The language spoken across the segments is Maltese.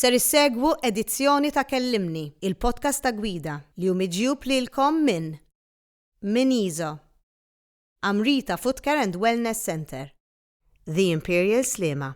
Ser issegwu edizzjoni ta' Kellimni, il-podcast ta' gwida li hu miġjub lilkom minn Min Iso, Amrita Footcare and Wellness Centre, The Imperial Sliema,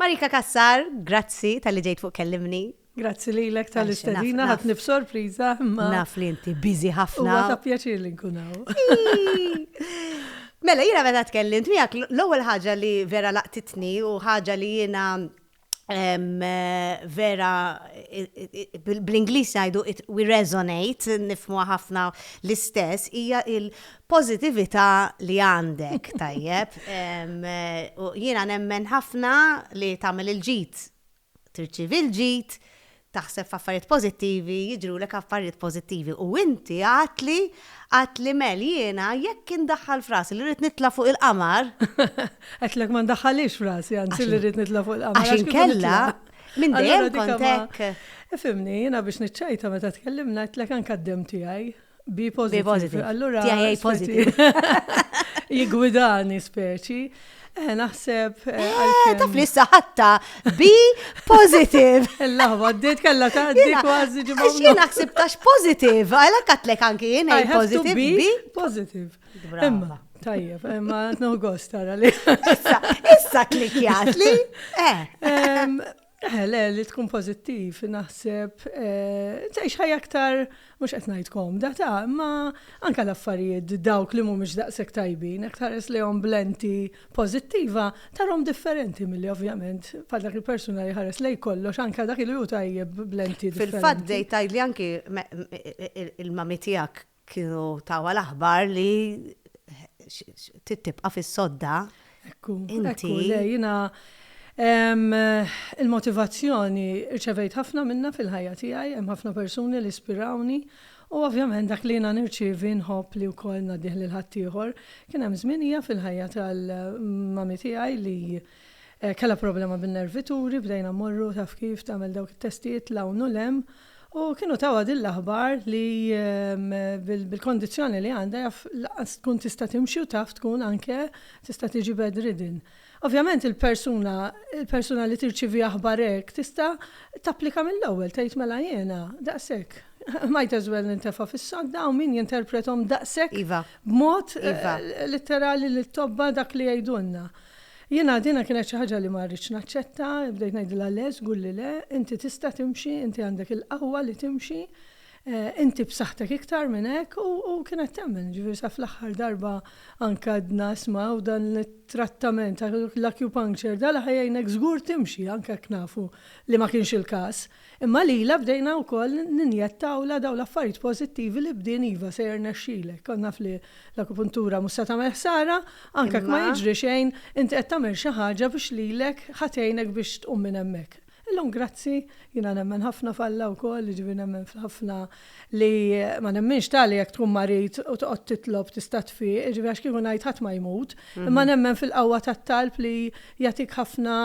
Marika Cassar, grazzi talli ġejt fuq Kellimni. Grazzi lilek tal-istedina, ħadtni b'sorpriża imma. Naf li inti busy ħafna. Huwa ta' pjaċir li nkun hawn. Mela, jiena meta tkellimt miegħek, l-ewwel ħaġa li vera laqtitni u ħaġa li jiena vera bl-Ingliż jgħidu we resonate, nifhmuha ħafna l-istess, hija Pożitività li għandek, tajjeb. Jiena nemmen ħafna li tagħmel il-ġid, tirċievi l-ġid, taħseb f'affarijiet pożittivi, jiġrulek affarijiet pożittivi. U inti għadtli, għadtli Mel, jiena jekk indaħħal f'rasi li rrid nitla' fuq il-qamar. Għedtlek ma ndaħħalix f'rasi, anzi li rrid nitla' fuq il-qamar. Għax inkella, minn dejjem kont hekk. Ifimni, jiena biex niċċajta meta tkellimna għedtlek anke d-demm tiegħi. Bi positive. Allura. Tiegħi A positive. Jigwidani speċi. Eh, naħseb. Eh, eh, taf li saħatta bi positive. L-laħwa, d-dit kalla ta' d-dit kważi ġibba. Xie naħseb tax positive, għala katlek anki jien għaj positive. Bi positive. Imma, tajjeb, imma t-nuħ gost tara li. Issa klikjat li. Eħe, le, li tkun pożittiv, naħseb, tgħix ħajja aktar, mhux qed ngħid komda, ta', imma anke l-affarijiet dawk li mhumiex daqshekk tajbin, jekk tħares lejhom b'lenti pożittiva, tarhom differenti milli ovvjament bħal dak il-persuna li jħares lejn kollox, anke dak li hu tajjeb b'lenti differenti. Fil-fatt bdejt tgħidli anke il-mami tiegħek Kienu tawha l-aħbar li trid tibqa' fis-sodda. Ekku, ekku, le jiena il-motivazzjoni rċevejt ħafna minnha fil-ħajja tiegħi, hemm ħafna persuni li spirawni u ovvjament dak li jiena nirċievi nħobb li wkoll ngħaddih lil ħaddieħor. Kien hemm żminija fil-ħajja tal-mami tiegħi li kellha problema bin-nervi turi, bdejna mmorru taf kif tagħmel dawk it-testijiet 'l hawn u 'l hemm, U kienu tawha din l-aħbar li bil-kondizzjoni li għandha jaf lanqas tkun tista' timxi u taf tkun anke tista' tiġi bedridden. Ovvjament il-persuna il-persuna li tirċievi aħbar hekk tista' tapplika mill-ewwel tgħid mela jiena daqshekk might as well nintefa' fis-sodda hawn min jinterpretom daqshekk b'mod litterali lit-tobba dak li jgħidulna. Jiena dina kienet xi ħaġa li ma rridtx naċċetta, bdejt ngħidilha le, żgur li le, inti tista' timxi, inti għandek il-qawwa li timxi, inti b'saħħtek iktar minn hekk u kienet temmen, jiġifieri sa fl-aħħar darba anke għedna isma' u dan it-trattament, l-acupuncture, dan li ħa jgħinek żgur timxi anke jekk nafu li ma kienx il-każ. Imma lilha bdejna wkoll ninjettawlha dawn l-affarijiet pożittivi li bdien iva se jirnexxilek, kont naf li l-akupuntura mhux se tagħmel ħsara, anke jekk ma jiġri xejn, inti qed tagħmel xi ħaġa biex lilek ħa tgħinek biex tqum minn hemmhekk. Illum grazzi, jiena nemmen ħafna f'Alla wkoll, jiġifieri nemmen f'ħafna li ma nemminx tali jekk tkun marid u toqgħod titlob tista' tfieq, jiġifieri għax kieku ngħid ħadd ma jmut, imma nemmen fil-qawwa tat-talb li jagħtik ħafna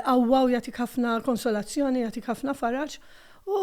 qawwa u jagħtik ħafna konsolazzjoni, jagħtik ħafna faraġ. U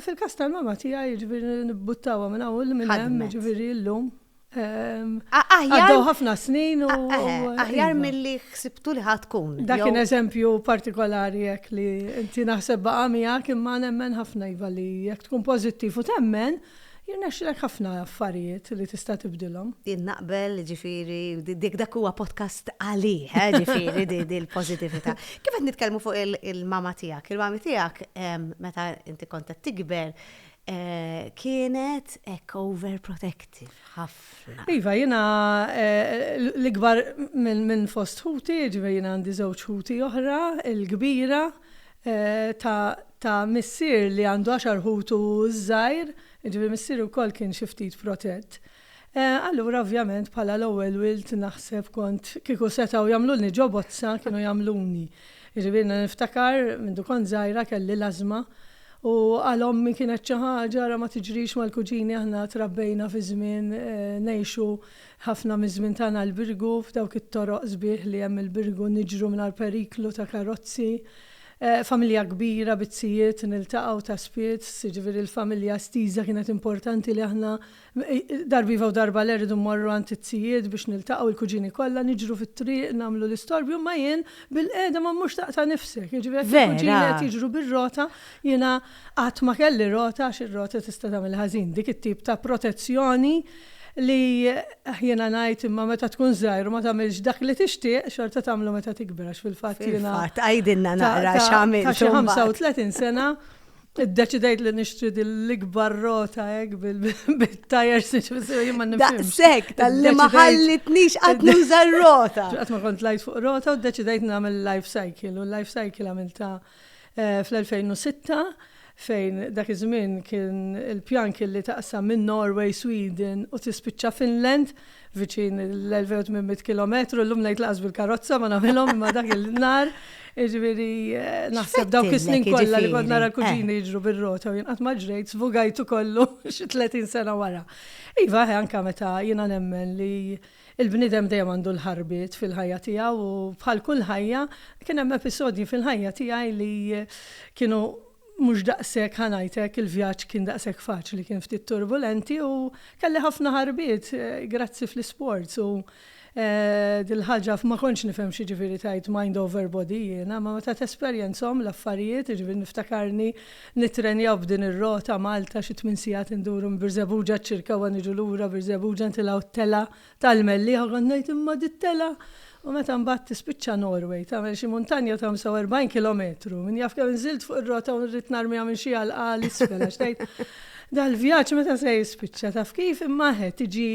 fil-każ tal-mamma tiegħi, jiġifieri nibbuttawha minn hawn u minn hemm, jiġifieri llum. Ehm, għaddew ħafna snin u. Eh, aħjar mill-li xsibtu li ħatkun. Dak kien eżempju partikolari jek li inti naħseb baqa miegħek imma nemmen ħafna iva li jekk tkun pożittiv u temmen, jirnexxilek ħafna affarijiet li tista' tibdilhom. Jien naqbel ġifieri dik dak huwa podcast għalih, eh, ġifieri di l-pożittività. Kif qed nitkellmu fuq il-mama tiegħek, il-mama tiegħek ehm, meta inti kontet tikber, kienet hekk overprotective ħafna. Iva, jiena l-ikbar minn fost ħuti, ġifieri jiena għandi żewġ ħuti oħra, il-kbira ta' missier li għandu għaxar ħut u ż-żgħir, ġifieri missieri wkoll kien xi ftit protett. Allura ovvjament bħala l-ewwel wild naħseb kont kieku setgħu jagħmlulni ġo bozza kienu jagħmluni. Jiġifieri jiena niftakar mindu kont żgħira kelli l-ażma u għal ommi kienet xi ħaġa ara ma tiġrix mal-kuġini aħna trabbejna fi żmien ngħixu ħafna miż-żmien tagħna l-Birgu f'dawk it-toroq sbieħ li hemm il-Birgu niġru mingħajr periklu ta' karozzi. Familja kbira bi t-tijiet niltaqgħu ta' spiss jiġifieri l-familja estiża kienet importanti li aħna Darba iva u darba le rridu mmorru għand it-tijiet biex niltaqgħu l-kuġini kollha, niġru fit-triq, nagħmlu l-istorbju, imma jien bilqiegħda ma mmurx taqta' nifsek. Jiġifieri jekk il-kuġini qed jiġru bir-rota, jiena qatt ma kelli rota għax ir-rota tista' tagħmel ħażin. Dik it-tip ta' protezzjoni li jiena ngħid imma meta tkun żgħir u ma tagħmilx dak li tixtieq, xorta tagħmlu meta tikber għax fil-fatt jiena. Fil-fatt, għidilna naqra x'għamilt imbagħad. Ta' xi 35 sena Iddeċidejt li nixtri dil-ikbar rota hekk bil-tajers jien ma nifhimx. Daqshekk tal-li ma ħallitnix qatt nuża r-rota. Qatt ma kont lajt fuq rota u ddeċidejt nagħmel life cycle u l-life cycle għamilta eh, fl-2006 fejn dak iż-żmien kien il-pjan kien li taqsam minn Norway, Sweden u tispiċċa Finland viċin l-1800 kilometru, l-lum ngħid laqas bil-karozza ma nagħmilhom imma dak il-nar, jiġifieri eh, naħseb dawk is-snin kollha li kont nara kuġini eh. jiġru bir-rota u jien qatt ma ġrejt sfugajtu kollu xi 30 sena wara. Iva, eh, anka meta jiena nemmen li il-bnidem dejjem għandu l-ħarbit fil-ħajja tiegħu u bħal kull ħajja kien hemm episodji fil-ħajja tiegħi li kienu Mhux daqshekk ħa ngħidlek il-vjaġġ kien daqshekk faċli kien ftit turbulenti u kelli ħafna ħarbiet grazzi fl-isports u dil-ħaġa ma kontx nifhem x'jiġifieri tgħid mind over body jiena ma meta tesperjenzhom l-affarijiet jiġifieri niftakarni nittrenjaw b'din ir-rota Malta xi tmien sigħat induru minn Birżebbuġa għaċ-Ċirkewwa niġu lura Birżebbuġa ntilgħu t-telgħa Tal-Mellieħa kont ngħid imma dittela u meta mbagħad tispiċċa Norway tagħmel xi muntanja ta' 45 kilometru, min jaf kemm nżilt fuq ir-rota u rrid narmiha minn xi għalqa għal isfel għax tgħid dal-vjaġġ meta se jispiċċa taf kif imma eħe tiġi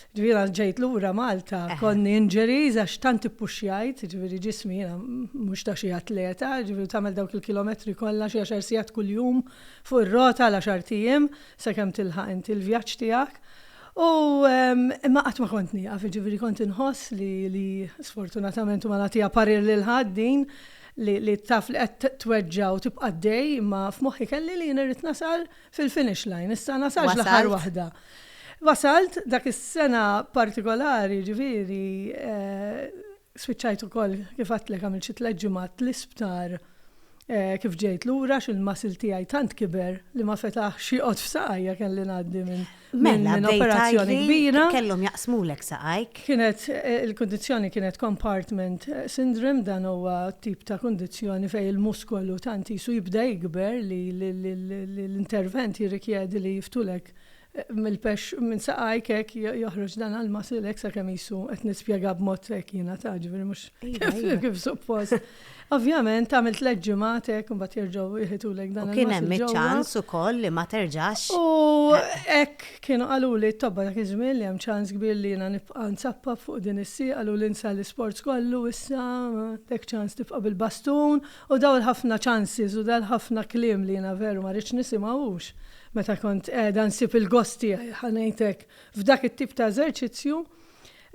ġifieri jiena ġejt lura Malta konni injuries għax tant ippuxxjajt ġifieri ġismi jiena mhux ta' xi atleta ġifieri tagħmel dawk il-kilometri kollha xi għaxar sigħat kuljum fuq ir-rota għal għaxart ijiem sakemm tilħaq inti l-vjaġġ tiegħek U imma qatt ma kont nieqaf, jiġifieri kont inħoss li li sfortunatament u ma nagħtiha parir lil ħadd din li taf li qed tweġġa' u tibqa' għaddej imma f'moħħi kelli li jien irrid nasal fil-finish line, issa nasalx l-aħħar waħda. Wasalt? Wasalt, dak is-sena partikolari jiġifieri Spiċċajt ukoll, kif għedtlek għamilt xi tliet ġimgħat l-isptar kif ġejt lura għax il-muscle tiegħi tant kiber li ma fetaħx joqgħod f'saqajja kelli ngħaddi minn mela, minn operazzjoni kbira. Kellhom jaqsmulek saqajk. Kienet eh, il-kundizzjoni kienet compartment eh, syndrome dan huwa tip ta' kundizzjoni fejn il-muskolu tant jisu jibda jikber li l-intervent jirrikjedi li jiftulek Mill-pexx minn saqajk hekk joħroġ dan għall-muscle hekk sakemm qisu qed nispjega b'mod hekk jiena ta' ġifieri mhux iva, iva. kif suppost. Ovvjament tagħmel tliet ġimgħat hekk imbagħad jerġgħu jħitulek dan il-muscle. Kien hemm iċ-ċans ukoll li ma terġax. U hekk kienu qaluli t-tobba dak iż-żmien li hemm ċans kbir li jiena nibqa' nsappab fuq din is-sieq qaluli insa l-isports kollu issa għandek ċans tibqa' bil-bastun u dawn il-ħafna ċansis u dal-ħafna kliem li jiena veru ma rridx nisimgħu hux Meta kont qiegħda nsib il-gost tiegħi, ħa ngħid hekk, f'dak it-tip ta' eżerċizzju,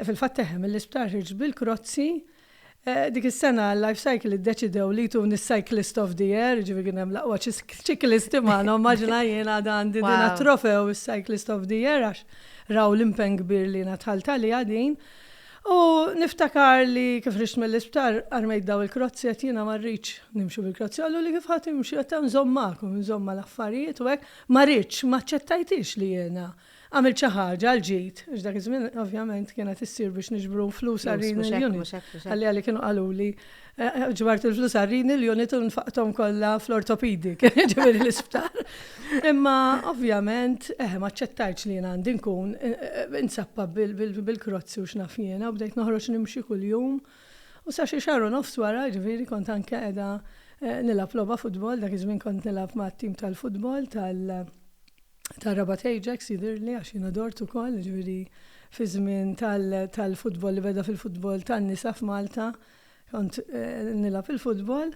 fil-fatt eħe, mill-isptar ħriġt bil-krozzi. Dik is-sena Life Cycle iddeċidew li jtuni s-Cyclist of the Year, jiġifieri kien hemm l-aqwa ċiklisti magħna, immaġina jien għad għandi din għat-trofew is-Cyclist of the Year għax raw l-impenn kbir li jiena dħalt għaliha din. U niftakar li kif ħriġt mill-isptar armejt daw il-krozzi għedt jiena ma rridx nimxi bil-krozzi. Qaluli kif ħa timxi għedt nżomm magħkom, nżomm mal-affarijiet u hekk. Ma ridtx, ma aċċettajthiex li jiena għamilt xi ħaġa għal ġid, għax dak iż-żmien ovvjament kienet issir biex niġbru flus għar-Renal Unit. Għalija li kienu qaluli ġbart il-flus għarrini l-unit u nfaqtom kollha fl-ortopedic, ġifieri l-isptar. Imma ovvjament, eh, ma ċċettajtx li jien għandi nkun eh, eh, insappa bil-krozzi u x'naf jiena u bdejt noħroġ nimxi kuljum. U sa xi xahar u nofs wara, ġifieri kont anke qiegħda eh, nilgħab logħba futbol, dak iż-żmien kont nilgħab ma' tim tal-futbol tal tar-Rabat Ajax jidirli għax jiena dort ukoll, ġifieri fi żmien tal-futbol li beda fil-futbol tan-nisa f'Malta. Tal Kont nilgħab il-futbol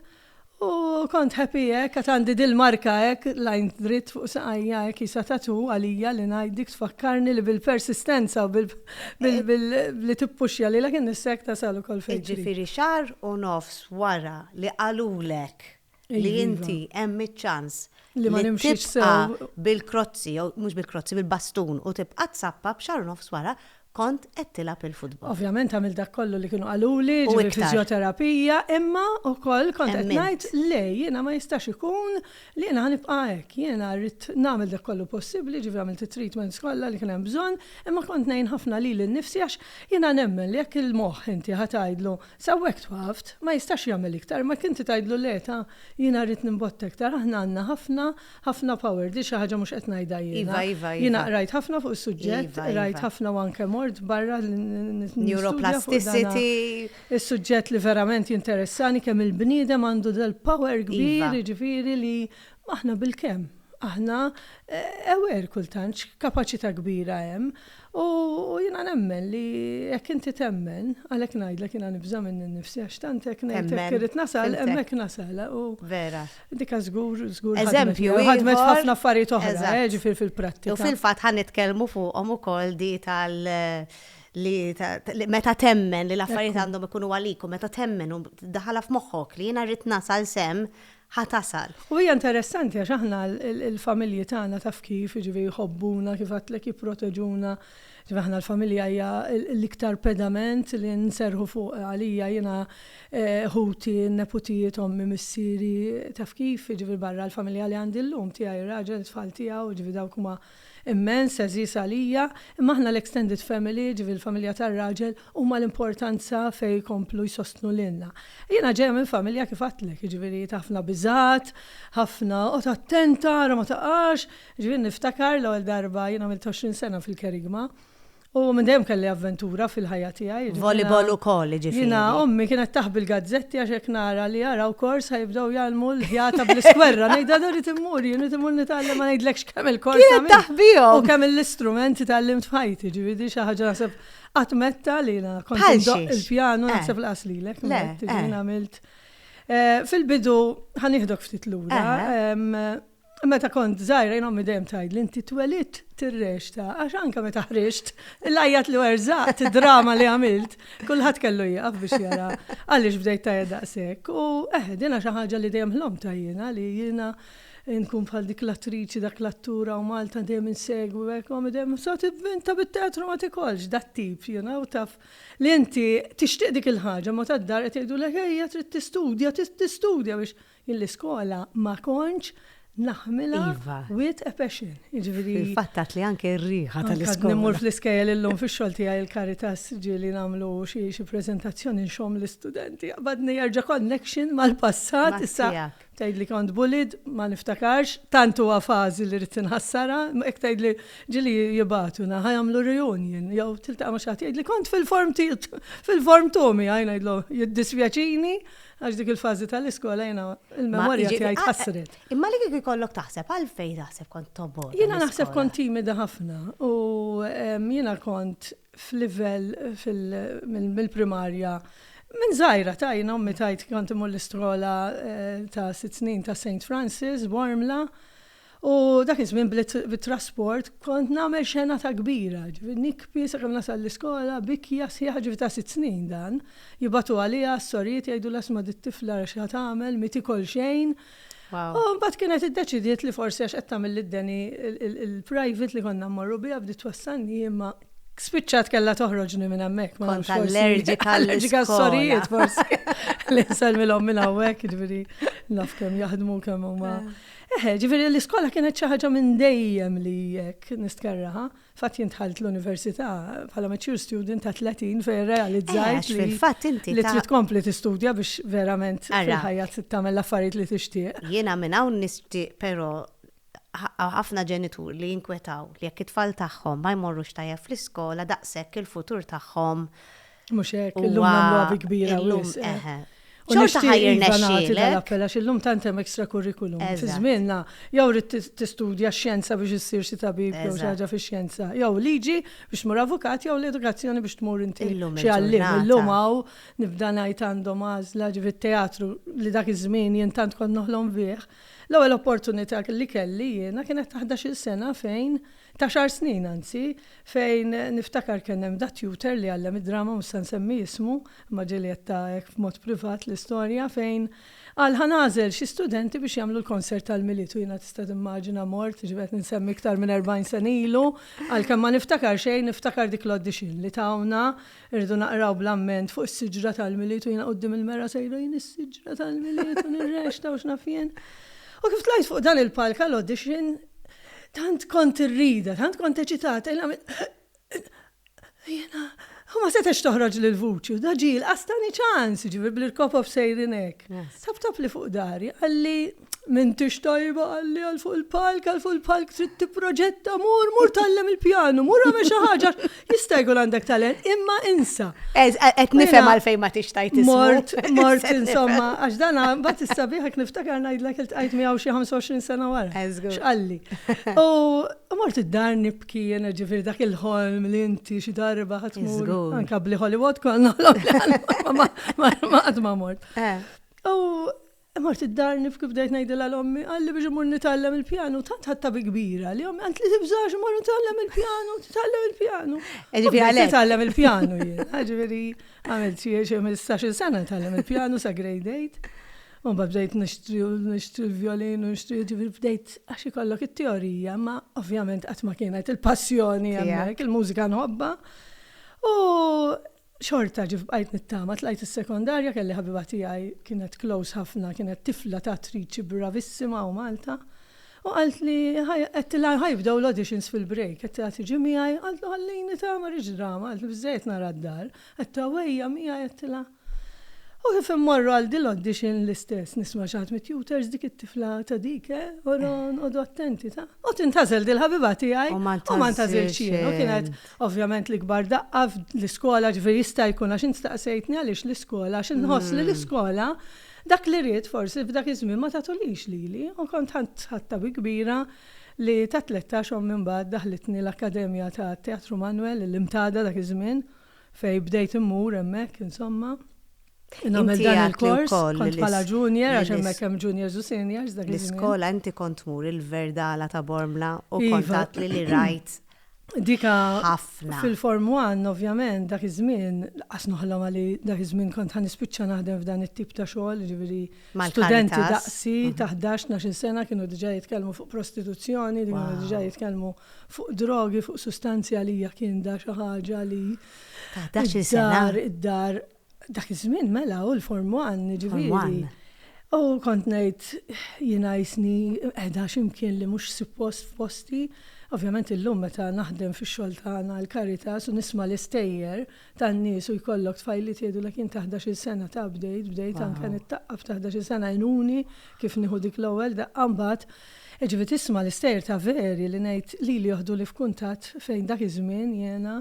u kont happy hekk għad għandi dil-marka hekk lajn dritt fuq saqajja hekk jisa tattoo għalija li ngħid dik tfakkarni li bil-persistenza u billi tippuxja lilek innifsek tasal ukoll fejn trid. Jiġifieri xahar u nofs wara li qalulek li inti hemm iċ-ċans li ma nimxiex bil-krozzi, jew mhux bil-krozzi, bil-bastun u tibqa' tsappa b'xar nofs wara kont qed tilgħab il-futbol. Ovvjament għamil dak kollu li kienu qaluli, ġifieri fiżjoterapija, imma wkoll kont qed ngħid le jiena ma jistax ikun li jiena ħanibqa' hekk, jiena rrid nagħmel dak kollu possibbli, ġifieri għamilt it-treatments kollha li kien hemm bżonn, imma kont ngħin ħafna lili nnifsi għax jiena nemmen li jekk il-moħħ inti ħa tgħidlu Sawwek twaft, ma jistax jagħmel iktar, ma jekk inti tgħidlu le ta' jiena rrid nimbotta iktar, aħna għandna ħafna, ħafna power, di xi ħaġa mhux qed ngħidha jiena. Iva, iva, iva. Jiena qrajt ħafna fuq is-suġġett, Iva, iva. qrajt ħafna u anke mort barra li n- n- nistudja fuq dana. Neuroplasticity. Is-suġġett li verament jinteressani kemm il-bniedem għandu dal-power kbir, Iva. jiġifieri li aħna bil-kemm. Aħna eh, aware kultant x'kapaċità kbira hemm. U jiena nemmen li jekk inti temmen, għalhekk ngħidlek jiena nibża' minni nnifsi għax tant hekk ngħid hekk irrid nasal, hemmhekk nasal. Vera. Dika żgur, żgur. Eżempju, ħadmet ħafna affarijiet oħra, jiġifieri fil-prattika. U fil-fatt ħa nitkellmu fuqhom ukoll di tal li meta temmen li l-affarijiet għandhom ikunu għalik u meta temmen u tiddaħħalha f'moħħok li jiena rrid nasal sehem ħa tasal. U hija interessanti għax aħna l-familji tagħna taf kif, jiġifieri jħobbuna, kif għedtlek jipproteġuna, jiġifieri aħna l-familja hija l-iktar pedament li nserrħu fuq għalija jiena eh, ħuti, neputijiet, ommi, missieri, taf kif, jiġifieri barra l-familja li għandi llum tiegħi, ir-raġel, tfal tiegħu, jiġifieri dawk huma immens, għeżież għalija, imma aħna l-extended family, jiġifieri l-familja tar-raġel, huma l-importanza fejn jkomplu jsostnu lilna. Jiena ġejja minn familja kif għedtlek, jiġifieri ta' ħafna biżgħat, ħafna oqgħod attenta ara ma taqax, jiġifieri niftakar l-ewwel darba, jien għamilt 20 sena fil-Kerygma, U minn dejjem kelli avventura fil-ħajja tiegħi. Volleyball ukoll, jiġifieri. Jiena ommi kienet taħbi l-gazzetti għax hekk nara li jaraw kors ħa jibdew jgħallmu l-ħjata bl-iskwerra. Ngħidha dan irid immur jien, irid immur nitgħallem ma ngħidlekx kemm il-kors. Kienet taħbihom. U kemm l-istrumenti tgħallimt f'ħajti, ġifieri xi ħaġa naħseb qatt metta li jiena kont indoqq il-pjanu eh. naħseb laqas lilek, eh. għamilt. Eh, fil-bidu ħanieħdok ftit lura. Meta kont żgħira jien ommi dejjem tgħidli inti twelidt tirrexta għax anke meta ħriġt l-għajjat li werżaqt id-drama li għamilt kulħadd kellu jieqaf biex jara għaliex bdejt tajjeb daqshekk. U eh, dinha xi ħaġa li dejjem ħlomtha jiena li jiena nkun bħal dik l-attriċi dak l-attura u Malta dejjem insegwi hekk ma dejjem so tivvinta bit-teatru ma tikolx dat tip, you know, taf li inti tixtieq dik il-ħaġa ma tad-dar qed jgħidu lek ejja trid tistudja, tistudja biex Jien l-iskola ma kontx naħmilha with a passion. Fil-fatt għedt li anke r-riħa tal-iskola. Għad immur fl-iskejjel illum fix-xogħol tiegħi l-Caritas ġieli nagħmlu xi preżentazzjoni nxomm l-istudenti. Qabadni jerġa' connection mal-passat. Issa tgħidli kont bullied ma niftakarx, tant huwa fażi li ridt inħassarha, hekk tgħidli ġieli jibagħtuna ħa jagħmlu reunion jew tiltaqa' ma' xi ħadd jgħidli kont fil-form fil-form two miegħi ngħidlu jiddispjaċini Għax dik il-fażi tal-iskola jiena il-memorja tiegħi tħassret. Imma li kieku jkollok taħseb għalfejn taħseb kont tobgħod. Jiena naħseb kont timida ħafna u jiena kont f'livell mill-primarja Minn zaħira ta' jina ummi tajt kont imur l-iskola ta' sitt snin ta' St. Francis, Warmla, U dak iż-żmien bit-trasport kont nagħmel xena ta' kbira, ġifieri nikbi sakemm nasal l-iskola, bikja sħiħa, ġifieri ta' sitt snin dan, jibagħtu għaliha s-sorijiet jgħidulha isma' dit-tifla ara x'ha tagħmel, mi tikol xejn. U mbagħad kienet iddeċidiet li forsi għax qed tagħmel lid-Danny il-private li konna mmorru biha bdiet twassalni imma spiċċat kellha toħroġni minn hemmhekk. Kont allerġika għall-iskola. Allerġika għas-sorijiet forsi. Li nsellmilhom minn hawnhekk, ġifieri naf kemm jaħdmu kemm huma. Eħe, ġifieri l-iskola kienet xi ħaġa minn dejjem li hekk nistkerrha. Fatt jien dħalt l-università bħala mature student ta' 30 fejn rrealizzajt li li trid tkompli tistudja biex verament fil-ħajja tagħmel l-affarijiet li tixtieq. Jiena minn hawn nixtieq però ħafna ġenituri li jinkwetaw li jekk it-tfal tagħhom ma jmorrux tajjeb fl-iskola daqshekk il-futur tagħhom Mhux hekk, illum nagħmluha bi kbira wis. Xorta ħajr nexxielek. Appella xillum tant hemm extra curriculum. Fi żmienna jew rid tistudja x-xjenza biex issir xi tabib jew xi ħaġa fix-xjenza, jew liġi biex tmur avukat jew l-edukazzjoni biex tmur inti xi għalliem. Illum hawn nibda ngħid għandhom għażla ġifi t-teatru li dak iż-żmien jien tant kont noħlom bih. L-ewwel opportunità li kelli jiena kienet ta' ħdax-il sena fejn Ta' xahar snin anzi, fejn niftakar kien hemm da' tutor li għallem id-drama, mhux se nsemmi ismu, imma ġieli għedtha hekk b'mod privat l-istorja, fejn qal ħa nagħżel xi studenti biex jagħmlu l-konsert tal-Milied u jiena tista' timmaġina mort, jiġifieri qed insemmi iktar minn erbgħin sena ilu, għalkemm ma niftakar xejn niftakar dik l-audition li tawna, irridu naqraw bl-amment fuq is-siġra tal-Milied u jiena quddiem il-mera sejra jien is-siġra tal-Milied u nirrexta u x'naf jien. U kif tlajt fuq dan il-palk għall-audition, Tant kont irrida, tant kont eċitata, il Jena, u ma setax toħroġ l vuċi u daġi l-qastani ċans, ġivi bl-irkopof sejrinek. Tap tap li fuq dari, għalli minn tix tajba għalli għal fuq il-palk, għal fuq il-palk trid tipproġetta, mur, mur tallem il-pjanu, mur għamel xi ħaġa. Jista' jkun għandek talent, imma insa. Qed nifhem għalfejn ma tix tajt Mort, mort insomma, għax dan mbagħad issa bieħek niftakar ngħidlek il-tqajt miegħu xi 25 sena wara. X'qalli. U mort id-dar nibki jiena ġifieri dak il-ħolm li inti xi darba ħadd mur. Anka bli Hollywood konna ma qatt ma mort. Eh. U Mort id-dar nibki u bdejt ngħidilha l-ommi qalli biex immur nitgħallem il-pjanu, tant ħadtha bi kbira li ommi għandt li tibżax immur nitgħallem il-pjanu, titgħallem il-pjanu. Nitgħallem il-pjanu jien, ġifieri għamilt xi xi ħmistax-il sena nitgħallem il-pjanu sa grade eight. U mbagħad bdejt nixtri u nixtri l-vjolin u nixtri ġifieri bdejt għax ikollok it-teorija, imma ovvjament qatt ma kienet il-passjoni hemmhekk, il-mużika nħobbha. U Xorta ġift bqajt nittama, tlajt is-sekondarja, kelli ħabiba tiegħi kienet close ħafna, kienet tifla ta' attriċi bravissima hawn Malta, u qaltli għedtilha ħa jibdew l-auditions fil-break, għedtilha tiġi miegħi, qaltlu ħallini ta' ma rridx drama, qaltlu biżżejjed nara d-dar, għedtha u ejja miegħi għedtilha. U kif immorru għal din l-audition l-istess nisma' xi ħadd mit-tutors dik it-tifla ta' dik eh, ora nqogħdu attenti ta'. U tintgħażel din il-ħabiba tiegħi u ma ntgħażilx jien u kienet Ovvjament l-ikbar daqqa fl-iskola ġifieri jista' jkun għax int staqsejtni għaliex l-iskola għax inħoss li l-iskola dak li ridt forsi f'dak iż-żmien ma tagħtulhiex lili u kont ħadt ħatta bi kbira li tat-tlettax ommi mbagħad daħħlitni l-Akkademja tat-Teatru Manwel il-Imtada dak iż-żmien fejn bdejt immur hemmhekk insomma nagħmel dan il-kors kont bħala junior għax hemmhekk hemm juniors u seniors dak iż-żmien. L-iskola inti kont tmur il-Verdala ta' Bormla u kont tgħidli li rajt Dik ħafna. Fil-Form One, ovvjament, dak iż-żmien, lanqas noħlomha li dak iż-żmien kont ħa nispiċċa naħdem f'dan it-tip ta' xogħol, jiġifieri studenti daqsi ta' ħdax, tnax-il sena kienu diġà jitkellmu fuq prostituzzjoni, kienu diġà jitkellmu fuq drogi, fuq sustanzi għalija kien da xi ħaġa li. Ta' ħdax-il sena. Id-dar, id-dar. Dak iż-żmien mela u l-Form 1, ġifieri. U kont ngħid jiena jisni qiegħda xi mkien li mhux suppost f'posti. Ovvjament illum meta naħdem fix-xogħol tagħna l-Caritas u nisma' l-istejjer tan-nies u jkollok tfajliet jgħidulek jien ta' ħdax-il sena ta' bdejt, bdejt anke nittaqqaf ta' ħdax-il sena għenuni kif nieħu dik l-ewwel daqqa mbagħad. Jiġifieri tisma' l-istejjer ta' veri li ngħid lili joħduli f'kuntatt fejn dak iż-żmien jiena.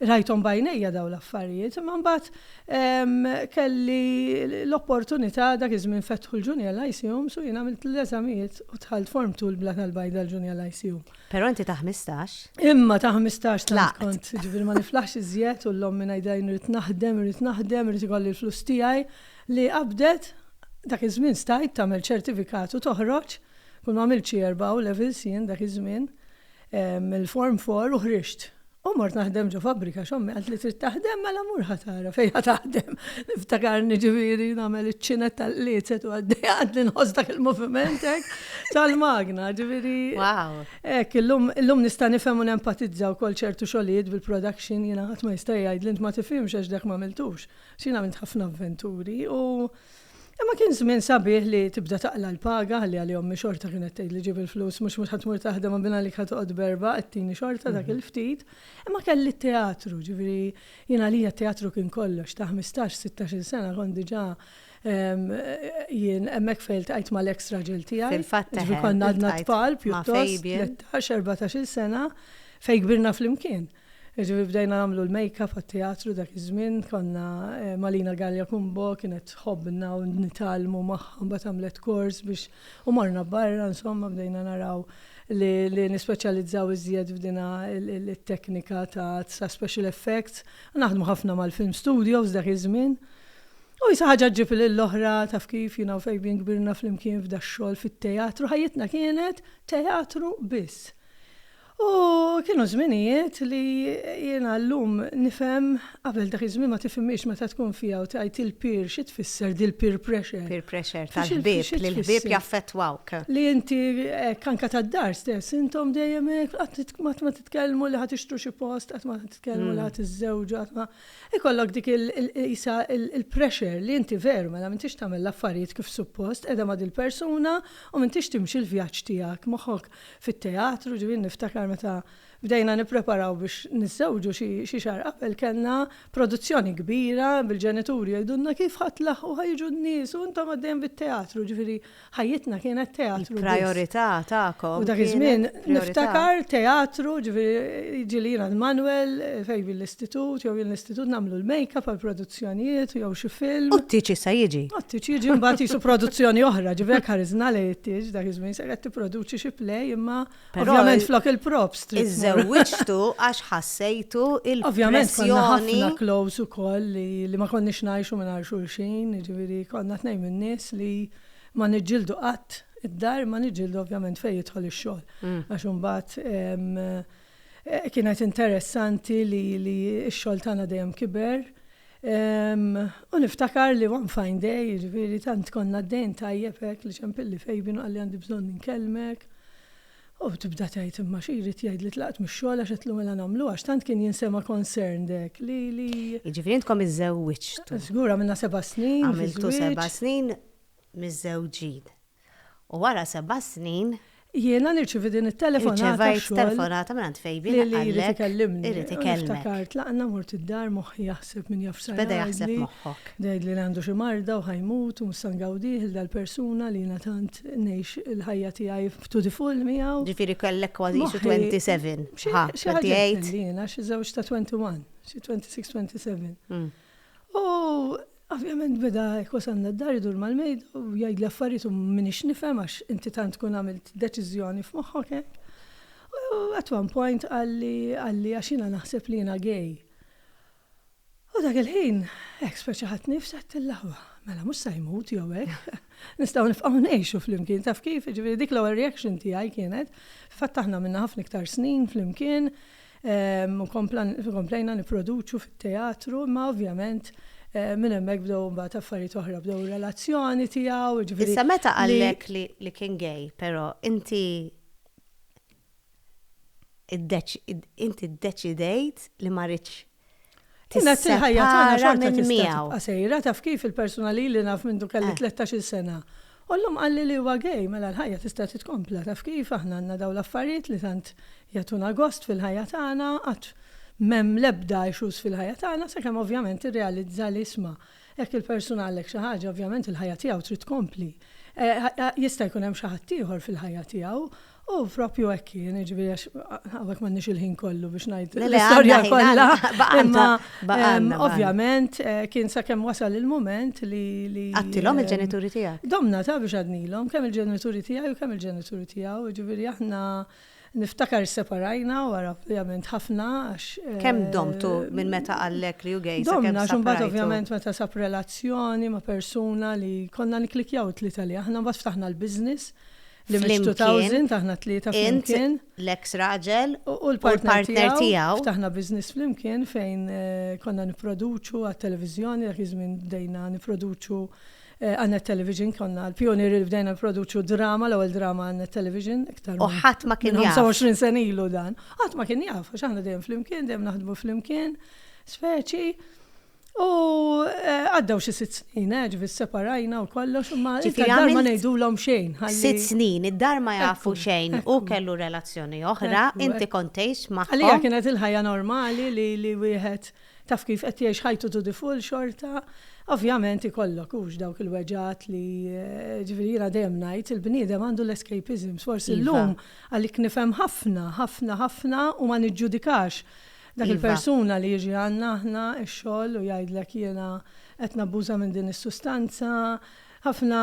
Rajthom b'għajnejja dawn l-affarijiet, imma mbagħad kelli l-opportunità, dak iż-żmien fetħu l-Junior High Seums u jien għamilt l-eżamijiet u dħalt Form Two l-Blat għall-Bajda l-Junior High Seum. Però inti ta' ħmistax. Imma ta' ħmistax tant kont, jiġifieri ma niflaħx iżjed u l-ommi ngħidilha jien irrid naħdem, irrid naħdem, irrid ikolli l-flus tiegħi li qabdet, dak iż-żmien stajt tagħmel ċertifikat u toħroġ, kont m'għamilt xi erba' A-Levels jien dak iż-żmien, mill-Form Four u ħriġt. U mort naħdem ġo fabbrika għax ommi qalt li trid taħdem mela mur ħa tara fejn ħa taħdem. Niftakarni ġifieri nagħmel iċ-ċinet tal-qliecet u għaddej għadni nħoss dak il-moviment hekk tal-magna ġifieri. Wow. Hekk illum illum nista' nifhem u nempatizza wkoll ċertu xogħlijiet bil-production jiena ħadd ma jista' jgħidli int ma tifhimx għax dak m'għamiltux. X'jien għamilt ħafna avventuri u Imma kien żmien sabiħ li tibda taqla' l-paga ħalli għalih ommi xorta kienet tgħidli ġib il-flus mhux mhux ħa tmur taħdem għan binha għalik ħa toqgħod b'erbgħa qed tini xorta dak il-ftit. Imma kelli t-teatru, ġifieri jien għalija t-teatru kien kollox. Ta' ħmistax, sittax-il sena kont diġà jien hemmhekk fejn iltqajt mal-eks raġel tiegħi. Fil-fatt eħe. Ġifieri konna għadna tfal pjuttost, tlettax, erbatax-il sena fejn kbirna flimkien. Jiġifieri bdejna nagħmlu l-makeup għat-teatru dak iż-żmien, konna Malina Galea Cumbo kienet tħobbna u nitgħallmu magħha mbagħad għamlet kors biex u morna barra insomma bdejna naraw li li nispeċjalizzaw iżjed f'dinha it-teknika ta' ta' special effects u naħdmu ħafna mal-film studios dak iż-żmien. U isa ħaġa ġġib lill-oħra taf kif jiena u Fabian kbirna flimkien f'dax-xogħol fit-teatru ħajjitna kienet teatru biss. U kienu żminijiet li jiena llum nifhem, qabel dak iż-żmien ma tifhimhiex meta tkun fiha u tgħid il-peer xi tfisser dil-peer pressure. Peer pressure tal-ħbieb, li l-ħbieb jaffettwawk. Li inti hekk anke tad-dar stess, intom dejjem hekk, qatt ma titkellmu li ħa tixtru xi post, qatt ma titkellmu li ħa tiżżewġu, qatt ma. Ikollok dik qisha l-pressure li inti veru mela m'intix tagħmel l-affarijiet kif suppost, qiegħda ma' dil-persuna u m'intix timxi l-vjaġġ tiegħek, moħħok fit-teatru, ġifieri niftakar meta bdejna nippreparaw biex niżżewġu xi xi xahar qabel kellna produzzjoni kbira bil-ġenituri jgħidulna kif ħa tlaħħqu ħa jiġu n-nies u intom għaddejjem bit-teatru, ġifieri ħajjitna kienet teatru biss. Il-prajorità tagħkom. U dak iż-żmien niftakar teatru, ġifieri jiġieli jiena l-Manwel fejn jien l-istitut jew jien l-istitut nagħmlu l-makeup għall-produzzjoni. produzzjonijiet jew xi film. U t-tieġ issa jiġi. U t-tieġ jiġi mbagħad qisu produzzjoni oħra, ġifieri hekk ħarisna lejn it-tieġ dak iż-żmien se qed tipproduċi xi play imma ovvjament flok il-props trid. Iżżewwiġtu għax ħassejtu il-pressjoni. Ovvjament konna ħafna close ukoll li ma konniex ngħixu mingħajr xulxin, jiġifieri konna tnejn min-nies li ma niġġieldu qatt id-dar imma niġġieldu ovvjament fejn jidħol ix-xogħol. Għax imbagħad Kienet interessanti li x-xogħol tagħna dejjem kiber. U niftakar li one fine day, jiġifieri tant konna għaddejjin tajjeb hekk li ċempilli Fabian u qalli għandi bżonn inkellmek. U tibda tgħid imma xi jrid jgħid li tlaqt mix-xogħol għax qedtlu mela nagħmlu għax tant kien jinsema concerned hekk li li. Jiġifieri intkom iżżewwiġtu. Żgur għamilna seba' snin. Għamiltu seba' snin miżżewġin. U wara seba' snin. Jiena nirċievi din it-telefonata xogħol. Irċevejt telefonata minn għand Fabian qalli. Li jrid ikellimni. Irid ikellimni. Ftakart laqna mort id-dar moħħi jaħseb min jaf x'sar. Beda jaħseb moħħok. Beda jgħidli li għandu xi marda u ħajmut u mhux se ngawdih il dal-persuna li jiena tant ngħix il-ħajja tiegħi to the full miegħu. Ġifieri kellek kważi qisu 27. Xi ħaġa hekk. Jiena xi żewġ ta' 21. Xi 26, 27. U ovvjament beda hekk wasalna d-dar idur mal-mejda u jgħidli affarijiet u m'iniex nifhem għax inti tant tkun għamilt deċiżjoni f'moħħok hekk. U at one point qalli qalli għax jiena naħseb li jiena gay. U dak il-ħin hekk speċaħatni fsegħet il-laħwa. Mela mhux sa jmut jew hekk. Nistgħu nibqgħu ngħixu flimkien taf kif, jiġifieri dik l-ewwel reaction tiegħi kienet. Fil-fatt aħna għamilna ħafna iktar snin flimkien, u komplejna nipproduċu fit-teatru, imma ovvjament minn hemmhekk bdew imbagħad affarijiet oħra, bdew ir-relazzjoni tiegħu, jiġifieri. Issa meta qallek li kien gay, però, inti inti ddeċidejt li ma ridtx Kienet il-ħajja tagħna xorta tista' tibqa' sejra, taf kif il-persuna li ili naf mindu kelli tlettax-il sena. U llum qalli li huwa gay, mela l-ħajja tista' titkompla, taf kif, aħna għandna dawn l-affarijiet li tant jagħtuna gost fil-ħajja tagħna, qatt m'hemm l-ebda issues fil-ħajja tagħna, sakemm ovvjament tirrealizza li isma', Jekk il-persuna għallek xi ħaġa, ovvjament il-ħajja tiegħu trid tkompli. Jista' jkun hemm xi ħadd ieħor fil-ħajja tiegħu. U proprju hekk kien, jiġifieri għax hawnhekk m'għandniex il-ħin kollu biex ngħid l-istorja kollha. Imma ovvjament eh, kien sakemm wasal il-mument li. Għattilhom eh, il-ġenituri tiegħek. Domna ta' biex għadnilhom kemm il-ġenituri tiegħi u kemm il-ġenituri tiegħu, jiġifieri aħna Niftakar isseparajna wara ovvjament ħafna għax. Kemm domtu minn meta qallek li hu gay sakemm saprajtu? Domna għax imbagħad ovvjament meta sab relazzjoni ma' persuna li konna nikklikkjaw it-tlieta li aħna mbagħad ftaħna l-business li mit-2000 aħna t-tlieta flimkien. Int, l-eks raġel u l-partner tiegħu. Ftaħna business flimkien fejn konna nipproduċu għat-televiżjoni dak iż-żmien bdejna nipproduċu Għal Net Television konna l-pijunieri li bdejna nipproduċu drama, l-ewwel drama għal Net Television iktar minn. U ħadd ma kien jaf. 25 sena ilu dan. Ħadd ma kien jaf għax aħna dejjem flimkien, dejjem naħdmu flimkien, speċi. U eh, għaddew xi sitt snin, eh, ġifi separajna u kollox, imma id-dar ma ngħidulhom xejn. Sitt snin, id-dar ma jafu xejn u kellu relazzjoni oħra, inti kontejx ma. Għalija kienet il-ħajja normali li wieħed Taf kif qed jgħix ħajtu to the full xorta ovvjament ikollok hux dawk il-weġgħat li ġifieri jiena dejjem ngħid il-bniedem għandu l-escapisms forsi llum għalik nifhem ħafna ħafna ħafna u ma niġġudikax dak il-persuna li jiġi għandna aħna x-xogħol u jgħidlek jiena qed nabbuża minn din is-sustanza ħafna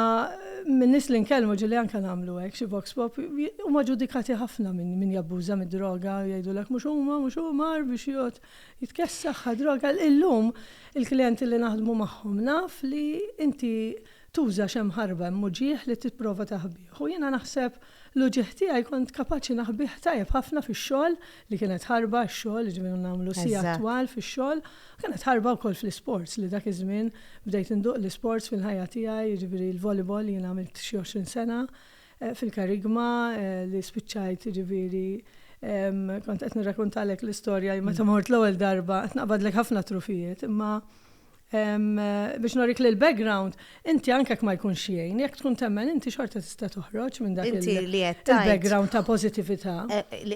min-nies li nkellmu ġieli anke nagħmlu hekk xi vox pop huma ġudikati ħafna minn min jabbuża mid-droga u jgħidulek mhux huma mhux hu mar biex jgħod jitkessaħ ħa droga illum il-klijenti li naħdmu magħhom naf li inti tuża xemm ħarba hemm uġigħ li tipprova taħbih u jiena naħseb l-uġigħ tiegħi kont kapaċi naħbih tajjeb ħafna fix-xogħol li kienet ħarba għax-xogħol jiġifieri konna nagħmlu sigħat twal fix-xogħol u kienet ħarba wkoll fl-isports li dak iż-żmien bdejt induq l-isports fil-ħajja tiegħi jiġifieri l-volleyball jiena għamilt xi għoxrin sena fil-Kerygma li spiċċajt jiġifieri kont qed nirrakuntalek l-istorja li meta mort l-ewwel darba qed naqbadlek ħafna trufijiet imma biex norik li l-background, inti anke ma jkunx jgħin, jekk tkun temmen inti xorta tista' toħroġ minn dak il-background ta' pożittività.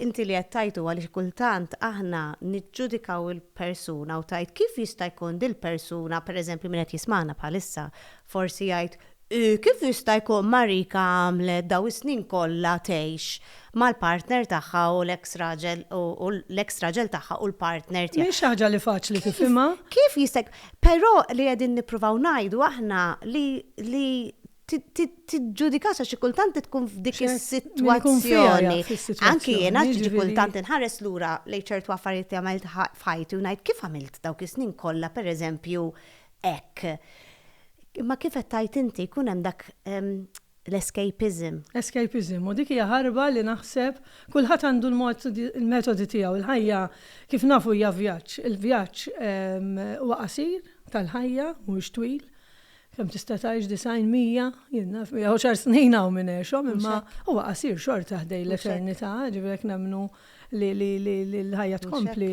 Inti li qed tajtu għaliex kultant aħna niġġudikaw il-persuna u tgħid kif jista' jkun dil-persuna, pereżempju min qed jismagħna bħalissa, forsi jgħid Kif jista' jkun Marika għamlet dawn is-snin kollha tgħix mal-partner tagħha u l-eks raġel u l-eks raġel tagħha u l-partner tiegħ. Mhix xi ħaġa li faċli tifhimha. Kif jista' jk. Però li qegħdin nippruvaw ngħidu aħna li li ti tiġġudikax għax xi kultant li tkun f'dik is-sitwazzjoni. Anki jiena xi kultant inħares lura lejn ċertu affarijiet li għamilt f'ħajti u ngħid kif għamilt dawk is-snin kollha pereżempju hekk. Imma kif qed tgħid inti jkun hemm dak l-escapism. Escapism, u dik hija ħarba li naħseb kulħadd għandu l-mod, il-metodi tiegħu. Il-ħajja kif nafu hija vjaġġ. Il-vjaġġ huwa qasir tal-ħajja, mhuwiex twil. Kemm tista' tgħix disgħin, mija, jien naf, mija u xahar snin hawn min għexhom, imma huwa qasir xorta ħdej l-eternità, ġifieri jekk nemmnu li l-ħajja tkompli,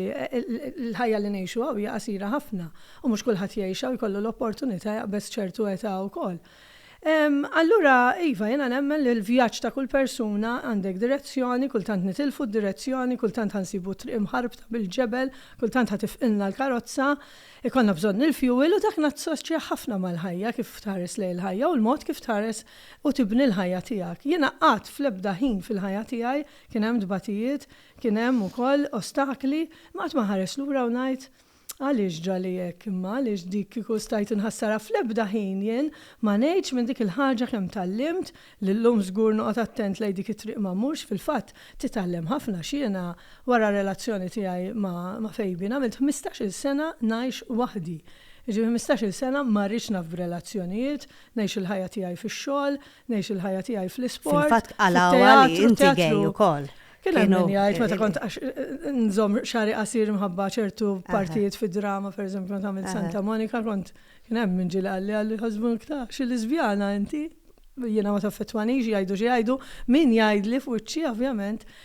l-ħajja li ngħixu hawn hija qasira ħafna u mhux kulħadd jgħixha u jkollu l-opportunità jaqbeż ċertu età wkoll. Allura, iva, jiena nemmen li l-vjaġġ ta' kull persuna għandek direzzjoni, kultant nitilfu d-direzzjoni, kultant ħa nsibu t-triq mħarbta bil-ġebel, kultant ħa tifqilna l-karozza, ikollna bżonn il-fjuwil u dak nassoċja ħafna mal-ħajja kif tħares lejn il-ħajja u l-mod kif tħares u tibni l-ħajja tiegħek. Jiena qatt fl-ebda ħin fil-ħajja tiegħi Kien hemm tbatijiet, kien hemm ukoll ostakli, imma qatt ma nħares lura u ngħid, Għaliex ġrali hekk, imma għaliex dik kieku stajt inħassarha? Fl-ebda ħin jien ma ngħidx minn dik il-ħaġa kemm tgħallimt, li llum żgur noqgħod attent lejn dik it-triq ma mmurx, fil-fatt titgħallem ħafna għax jiena wara r-relazzjoni tiegħi ma' Fabian għamilt ħmistax-il sena ngħix waħdi. Jiġifieri ħmistax-il sena ma rridx naf b'relazzjonijiet, ngħix il-ħajja tiegħi fix-xogħol, Ngħix il-ħajja tiegħi fl-isport. Fil-fatt qalgħuha li inti gay ukoll. Kien hemm min jgħid meta kont għax nżomm xagħri qasir minħabba ċertu partijiet fid-drama, pereżempju kont għamilt Santa Monika, kont kien hemm min ġieli qalli għalli ħasbu iktar xi lesbjana inti jiena ma taffettwanix jgħidu xi jgħidu, min jgħidli f'wiċċi ovvjament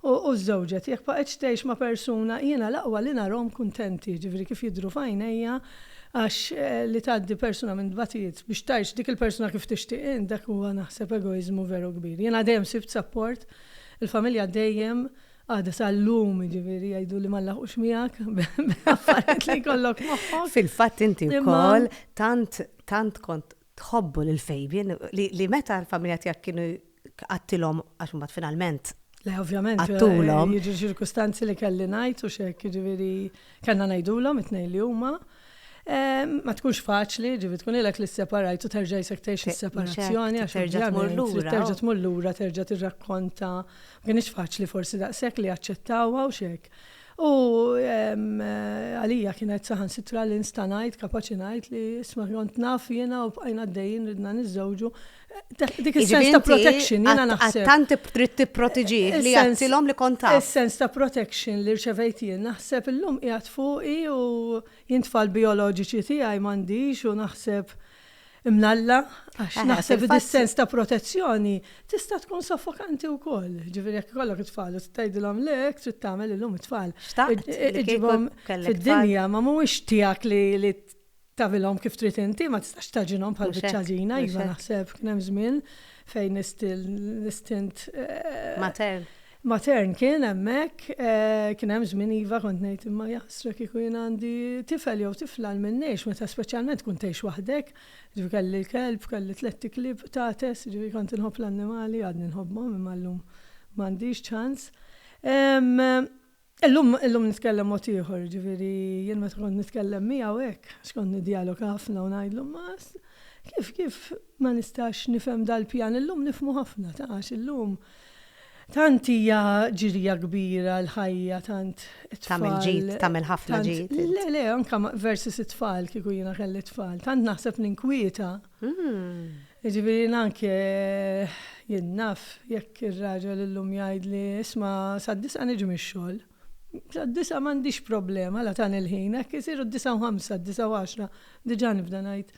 U u żżewġet. Jekk baqgħetx tgħix ma' persuna, jiena l-aqwa li narahom kuntenti, jiġifieri kif jidhru f'għajnejja, għax li tgħaddi persuna minn tbatijiet biex tgħix dik il-persuna kif tixtieq int, dak huwa naħseb egoiżmu veru kbir. Jiena dejjem sibt sapport, il-familja dejjem, għada sa llum, jiġifieri jgħiduli ma nlaħqux miegħek b'affarijiet li jkollok moħħok. Fil-fatt inti wkoll tant tant kont tħobbu lil Fabian li li meta l-familja tiegħek kienu qattilhom għax imbagħad finalment Le ovvjament qattulhom. Jiġu ċirkustanzi li kelli ngħid u xek, jiġifieri kellna ngħidulhom it-tnejn li huma. Ma tkunx faċli, ġivi tkun ilek li separajt u terġa' jisek tgħix is-separazzjoni għax terġa' tmur lura. Terġa' tmur lura, terġa' tirrakkonta. Ma kienx faċli forsi daqshekk li jaċċettawha u xek. U għalija kienet saħansitra li nista' ngħid, kapaċi ngħid li isma' kont naf jiena u bqajna għaddejjin ridna niżżewġu. Dik is-sens ta' protection jiena naħseb. Tant trid tipprotiġi li għattilhom li kont taf. Is-sens ta' protection li rċevejt jien naħseb illum qiegħed fuqi u jien tfal bijoloġiċi tiegħi m'għandix u naħseb imlalla għax naħseb li dis-sens ta' protezzjoni tista' tkun soffokanti wkoll. Ġifieri jekk ikollok it-tfal u tgħidilhom le hekk trid tagħmel illum it-tfal. Xtaqt iġibhom fid-dinja ma mhuwiex tiegħek li tagħmilhom kif trid inti, ma tistax tagħġinhom bħal biċċa għaġina, iva naħseb kien hemm żmien fejn l-istint matern. Matern kien hemmhekk, kien hemm żmien iva kont ngħid imma jaħsra kieku jien għandi tifel jew tifla għalmin ngħix meta speċjalment tkun tgħix waħdek, jiġifieri kelli l-kelb, kelli tlitt iklieb qtates, jiġifieri kont inħobb l-annimali, għadni nħobbhom imma llum m'għandix ċans. Illum, illum nitkellem mod ieħor, jiġifieri jien meta kont nitkellem miegħu hekk, għax kont niddjaloga ħafna u ngħidlu, ma kif, kif ma nistax nifhem dal-pjan, illum nifhmu ħafna, tara, għax illum tant hija ġirja kbira l-ħajja, tant it-tfal. Tagħmel ġid, tagħmel ħafna ġid. Le, le, anke versus it-tfal kieku jiena kelli t-tfal, tant naħseb ninkwieta. Jiġifieri jien anke jien naf jekk ir-raġel illum jgħidli, isma' sad-disgħa niġi mix-xogħol. Sad-disgħa m'għandix problema la tani l-ħin, hekk isiru d-disgħa u ħamsa, d-disgħa u għaxra, diġà nibda ngħid,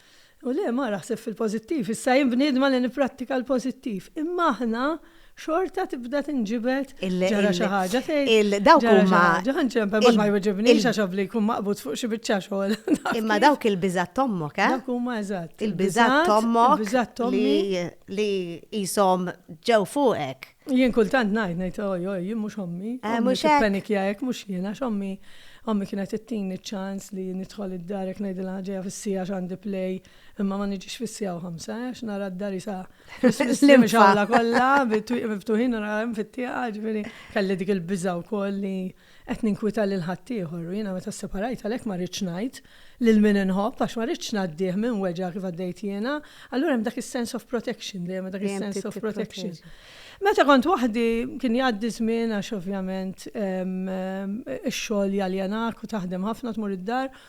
u le mara ħseb fil-pożittiv, issa jien bniedma li nipprattika l-pożittiv. Imma aħna xorta tibda tinġibed ġara xi ħaġa tgħid. Dawk huma ġanċempe ma jweġibniex għax ovli jkun maqbud fuq xi biċċa xogħol. Imma dawk il-biżat tommok, eh? Dawk huma eżatt. Il-biżat tommok li jisom ġew fuqek. Jien kultant ngħid ngħid oj oj jien mhux ommi. Eh, mhux hekk. Panikja hekk mhux jien għax ommi ommi kienet ittini ċans li nidħol id-darek ngħidilha ġejja fis-sija għandi play Imma ma niġix fis-siegħa u ħamsa, għax nara d-dar isa l-imxawla kollha, bit-twieq miftuħin u nara fit-tieqa, ġifieri kelli dik il-biża' wkoll li qed ninkwita lil ħaddieħor u jiena meta sseparajt għalhekk ma rridx ngħid lil min inħobb għax ma rridx ngħaddih minn weġgħa kif għaddejt jiena, allura hemm dak is-sense of protection dejjem dak is-sense of protection. Meta kont waħdi kien jgħaddi żmien għax ovvjament ix-xogħol jaljanak u taħdem ħafna tmur id-dar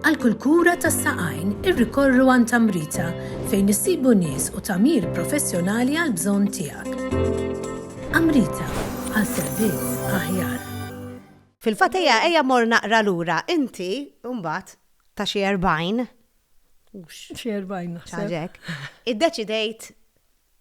Għal kull kura tas-saqajn irrikorru għand Amrita fejn issibu nies u tagħmir professjonali għal bżonn tiegħek. Amrita għal servizz aħjar. Fil-fatt ejja ejja mor naqra lura inti mbagħad ta' xi 40 xi 40 naħseb. Id-deċidejt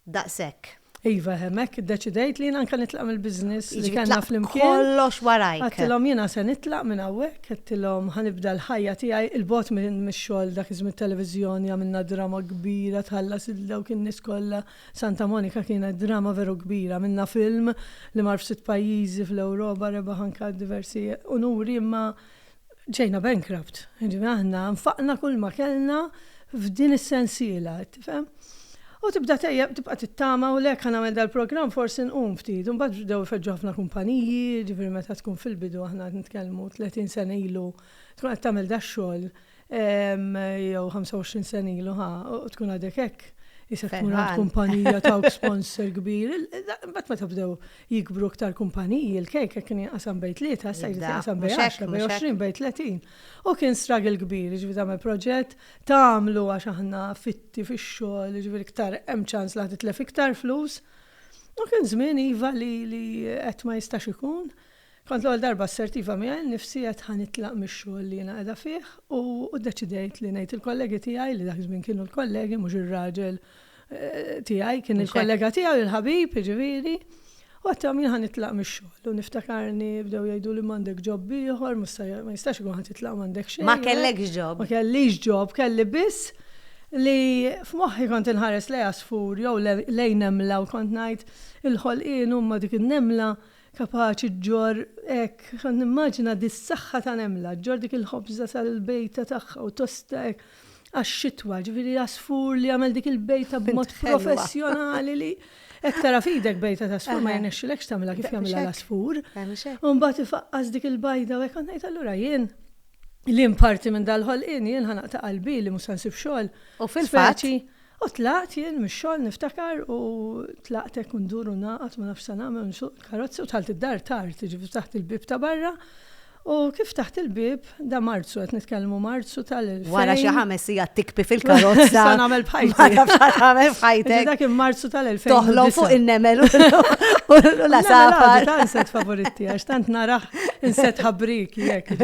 daqshekk. Iva, hemmhekk iddeċidejt li jien anke nitlaq mill-business li kellna flimkien. Jiġifieri tlaqt kollox warajk. Għedtilhom jiena se nitlaq minn hawnhekk, għedtilhom ħa nibda l-ħajja tiegħi 'il bogħod mix-xogħol dak iż-żmien it-televiżjoni għamilna drama kbira tħallas lil dawk in-nies kollha. Santa Monica kienet drama veru kbira. Għamilna film li mar f'sitt pajjiżi fl-Ewropa rebaħ anke diversi unuri imma Ġejna bankrupt. Jiġifieri aħna nfaqna kull ma kellna f'din is-sensiela, qed tifhem? U tibda tejjeb, tibqa' tittama u le, ħa nagħmel dal-programm forsi nqum ftit. U mbagħad bdew ifeġġu ħafna kumpaniji, jiġifieri meta tkun fil-bidu, aħna qed nitkellmu 30 sena ilu, tkun qed tagħmel dax-xogħol, Jew 25 sen ilu ħa, u tkun għadek hekk. Isek tkun għad kumpanija ta' sponsor kbir. Bat meta bdew jikbru ktar kumpaniji, il-kejk kien jinqasam bej tlieta, sa jrid jinqasam bej 10, bej 20, bej 30. U kien struggle kbir, ġifieri tagħmel proġett, tagħmlu għax aħna fitti fix-xogħol, ġifieri iktar hemm ċans li titlef iktar flus. U kien żmien iva li qed ma jistax ikun. Kont l-ewwel darba assertiva miegħi nnifsi għedt ħa nitlaq mix-xogħol li jiena qiegħda fih u ddeċidejt li ngħid il-kollegi tiegħi, li dak iż-żmien kienu l-kollegi mhux ir-raġel tiegħi, kien il-kollega tiegħu, il-ħabib jiġifieri, u għedthom jien ħa nitlaq mix-xogħol u niftakarni bdew jgħiduli m'għandek ġobb ieħor, mhux se, ma jistax ikun ħa titlaq m'għandek xejn. Ma kellekx ġobb. Ma kellix ġobb, kelli biss li f'moħħi kont inħares lejn għasfur jew lejn nemla u kont ngħid il-ħolqien huma dik in-nemla Kapaċi ġġorr hekk, nimmaġina dis-saħħa ta' nemla, ġġorr dik il-ħobża sal-bejta tagħha u tosta hekk għax-xitwa, ġifieri għasfur li jagħmel dik il-bejta b'mod professjonali li hekk tara f'idek bejta t'għasfur ma jirnexxilekx tagħmilha kif jagħmilha l-għasfur. U mbagħad ifaqqas dik il-bajda u hekk kont ngħid allura jien li nparti minn dal-ħolqien jien ħa naqta' qalbi li mhux se nsib xogħol. U fil-fatt. U tlaqt jien mix-xogħol niftakar u tlaqt hekk u ndur u ngħaqad ma nafx x'sanagħmel u nsuq il-karozza u dħalt id-dar tard, jiġifieri ftaħt il-bieb ta' barra u kif ftaħt il-bieb, da Marzu qed nitkellmu Marzu tal-2000. Wara xi ħames sigħat tikbi fil-karozza. Sa nagħmel b'ħajti. Ma nafx sa tagħmel b'ħajtek. Dak kien Marzu tal-2000. Toħlom fuq in-nemel u l-għasafar. Ta' inset favoritti għax tant narah inset ħabriki jekk,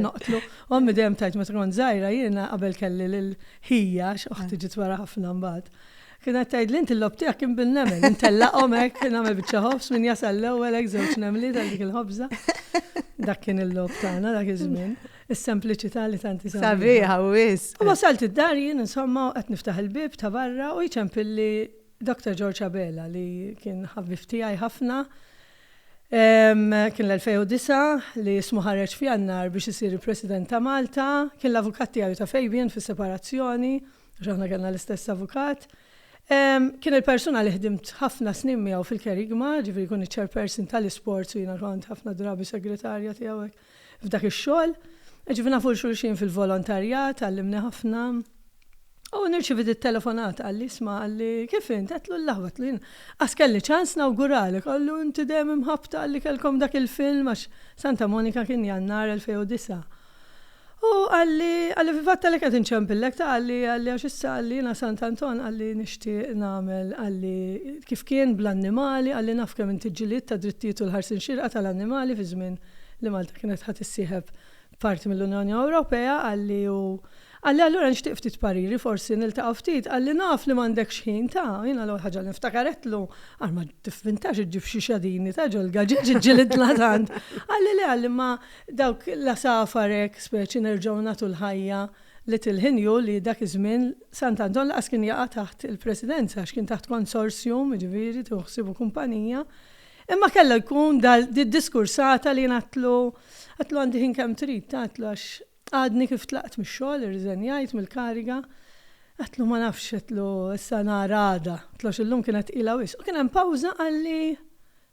noqtlu. Ommi dejjem tajt meta kont żgħira jiena qabel kelli Hi, għax oħti ġiet wara ħafna mbagħad. Kienet tgħidli inti l-lob tiegħek kien bin-nemel, intellaqhom hekk, kien għamel biċċa ħobż min jasal l-ewwel hekk żewġ nemliet għal dik il-ħobża. Dak kien il-lob tagħna dak iż-żmien. Is-sempliċità li tanti sabiħa. Sabiħa wis. U wasalt id-dar jien insomma qed niftaħ il-bib ta' barra u jċempilli Dr. George Abela li kien ħabib tiegħi ħafna Kien l-2009 li ismu ħareġ f'Jannar biex isir il-President ta' Malta. Kien l-avukat tiegħi u ta' Fabian fis-separazzjoni, għax aħna kellna l-istess avukat. Kien il-persuna li ħdimt ħafna snin miegħu fil-kerigma, ġifieri jkun iċ-chairperson tal-isports u jiena kont ħafna drabi segretarja tiegħu hekk. F'dak ix-xogħol, ġifieri nafu 'l xulxin fil-volontarjat, għallimni ħafna. U nirċievit it-telefonata, qalli, isma', qalli, kif int? Għedtlu, l-aħwa, għedtlu, jien qas kelli ċans nawguralek, qallu, inti dejjem imħabbta għalli kellkom dak il-film, għax Santa Monica kien Jannar 2009. U qalli, qalli, fil-fatt għalhekk qed inċempillek, ta' qalli, qalli, għax issa, qalli, jiena Sant Anton, qalli, nixtieq nagħmel, qalli, kif kien bl-annimali, qalli, naf kemm inti ġġilidt għad-drittijiet u l-ħarsien xierqa tal-annimali fiż-żmien, li Malta kienet ħa tissieħeb parti mill-Unjoni Ewropea, qalli u qalli allura nixtieq ftit pariri, forsi niltaqgħu ftit, qalli naf li m'għandekx ħin ta', jiena l-ewwel ħaġa li nftakaretlu, għal ma tiffintax iġġib xi xadini ta' ġol-gaġeġ iġġilidlha tant. Qalli le qalli imma dawk l-għasafar hekk speċi nerġgħu nagħtu l-ħajja li tilħin hu li dak iż-żmien Sant' Anton lanqas kien jaqa' taħt il-presidenza għax kien taħt konsorsjum, jiġifieri tieħu ħsiebu kumpanija, Imma kellu jkun dal di diskursata li jien għadtlu, għadtlu għandi ħin kemm trid, għadtlu għax għadni kif tlaqt mix-xogħol, irriżenjajt mill-kariga. Għadtlu ma nafx, għadtlu issa nhar għada, għadtlu għax illum kienet tqila wisq. U kien hemm pawża qalli,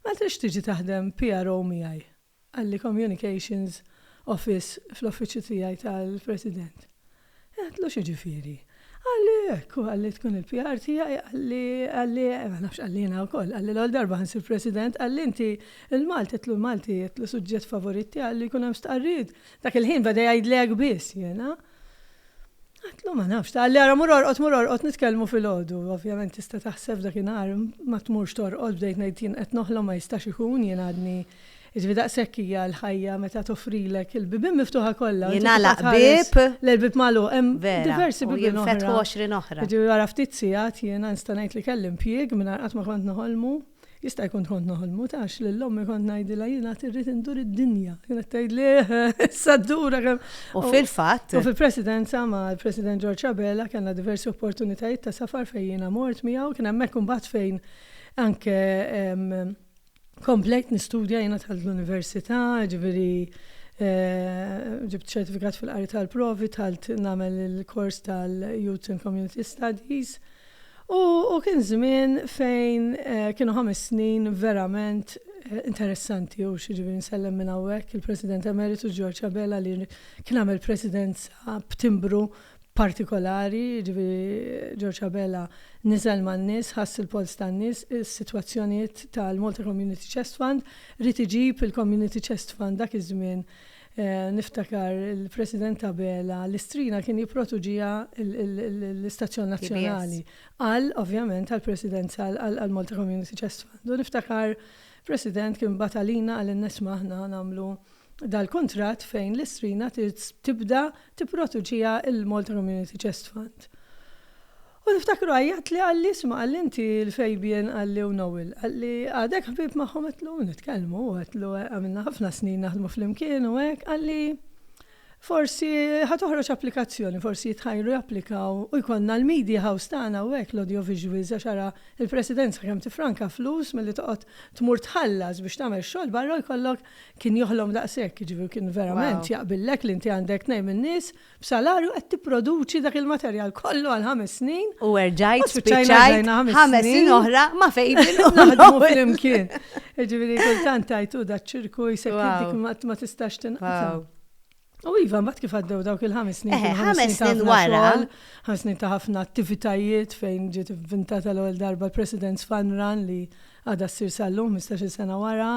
Ma tridx tiġi taħdem PRO miegħi? għall-Communications Office fl-Uffiċċju tiegħi tal-President. Għedtlu x'jiġifieri? Qalli hekk, u qalli tkun il-PR tiegħi, qalli, qalli, ma nafx qalli jiena wkoll, qalli l-ewwel darba ħa nsir President, qalli inti l-Malti, għedtlu l-Malti, għedtlu suġġett favorit tiegħi, qalli jkun hemm stqarrijiet. Dak il-ħin beda jgħidli hekk biss jiena. Għedtlu ma nafx, qalli ara mur orqod, mur orqod nitkellmu filgħodu, ovvjament tista' taħseb f'dakinhar ma tmurx torqod bdejt ngħid jien qed noħlom ma jistax ikun jien għadni Jiġifieri daqshekk hija l-ħajja meta toffrilek il-bibien miftuħa kollha. Jingħalaq bieb. Le l-bieb magħluq. Hemm diversi bibien oħra. Jinfetħu għoxrin oħra. Jiġifieri wara ftit sigħat jiena nista' ngħid li kelli impjieg mingħajr qatt ma kont noħolmu. Jista' jkun kont noħolmu taf lil ommi kont ngħidilha jien għad irrid indur id-dinja. Kienet tgħidli issa ddura kemm. U fil-fatt. U fil-Presidenza mal-President George Abela kellna diversi opportunitajiet ta' safar fejn jiena mort miegħu. Kien hemmhekk imbagħad fejn anke Komplejt nistudja jiena dħalt l-università, jiġifieri ġibt ċertifikat fil-qari tal-provi, dħalt nagħmel il-kors tal-Youth and Community Studies. U kien żmien fejn kienu ħames snin verament interessanti u jiġifieri nsellem minn hawnhekk il-President Emeritu George Abela li kien għamel presidenza b'timbru partikolari, jiġifieri George Abela niżel man-nies, ħass il-polz tan-nies, is-sitwazzjonijiet tal-Malta Community Chest Fund, ried iġib il-Community Chest Fund dak iż-żmien niftakar il-President Abela l-istrina kien jipprotuġiha l-istazzjon nazzjonali għal ovvjament għall-Presidenza għall-Malta Community Chest Fund u niftakar President kien bagħat għalina qal inna isma' aħna nagħmlu dal-kuntratt fejn l-istrina tibda tipproduċiha l-Malta Community Chest Fund. U niftakru għajjatli qalli isma' qalli inti l-Fabian qalli u Noel. Qalli għadek ħbieb magħhom għedlu nitkellmu għedlu għamilna ħafna snin naħdmu flimkien u hekk qalli forsi ħa toħroġ applikazzjoni, forsi jitħajru japplikaw u jkollna l-media house tagħna u hekk l-audio visuals għax ara l-Presidenza kemm tifranka flus milli toqgħod tmur tħallas biex tagħmel xogħol barra u jkollok Kien joħlom daqshekk, jiġifieri kien verament jaqbillek li inti għandek tnejn min-nies b'salarju qed tipproduċi dak il-materjal kollu għal ħames snin. U erġajt spiċċajt ħames snin oħra ma' Fabel u naħdmu flimkien. Jiġifieri kultant tgħid hu daċ-ċirku jsekkilek ma tistax tinqata'. U iva, mbagħad kif għaddew dawk il-ħames snin. Eh, ħames snin wara. Ħames snin ta' ħafna attivitajiet fejn ġiet vintata l-ewwel darba l-President's Fun Run li għadha ssir sal-lum 15 sena wara,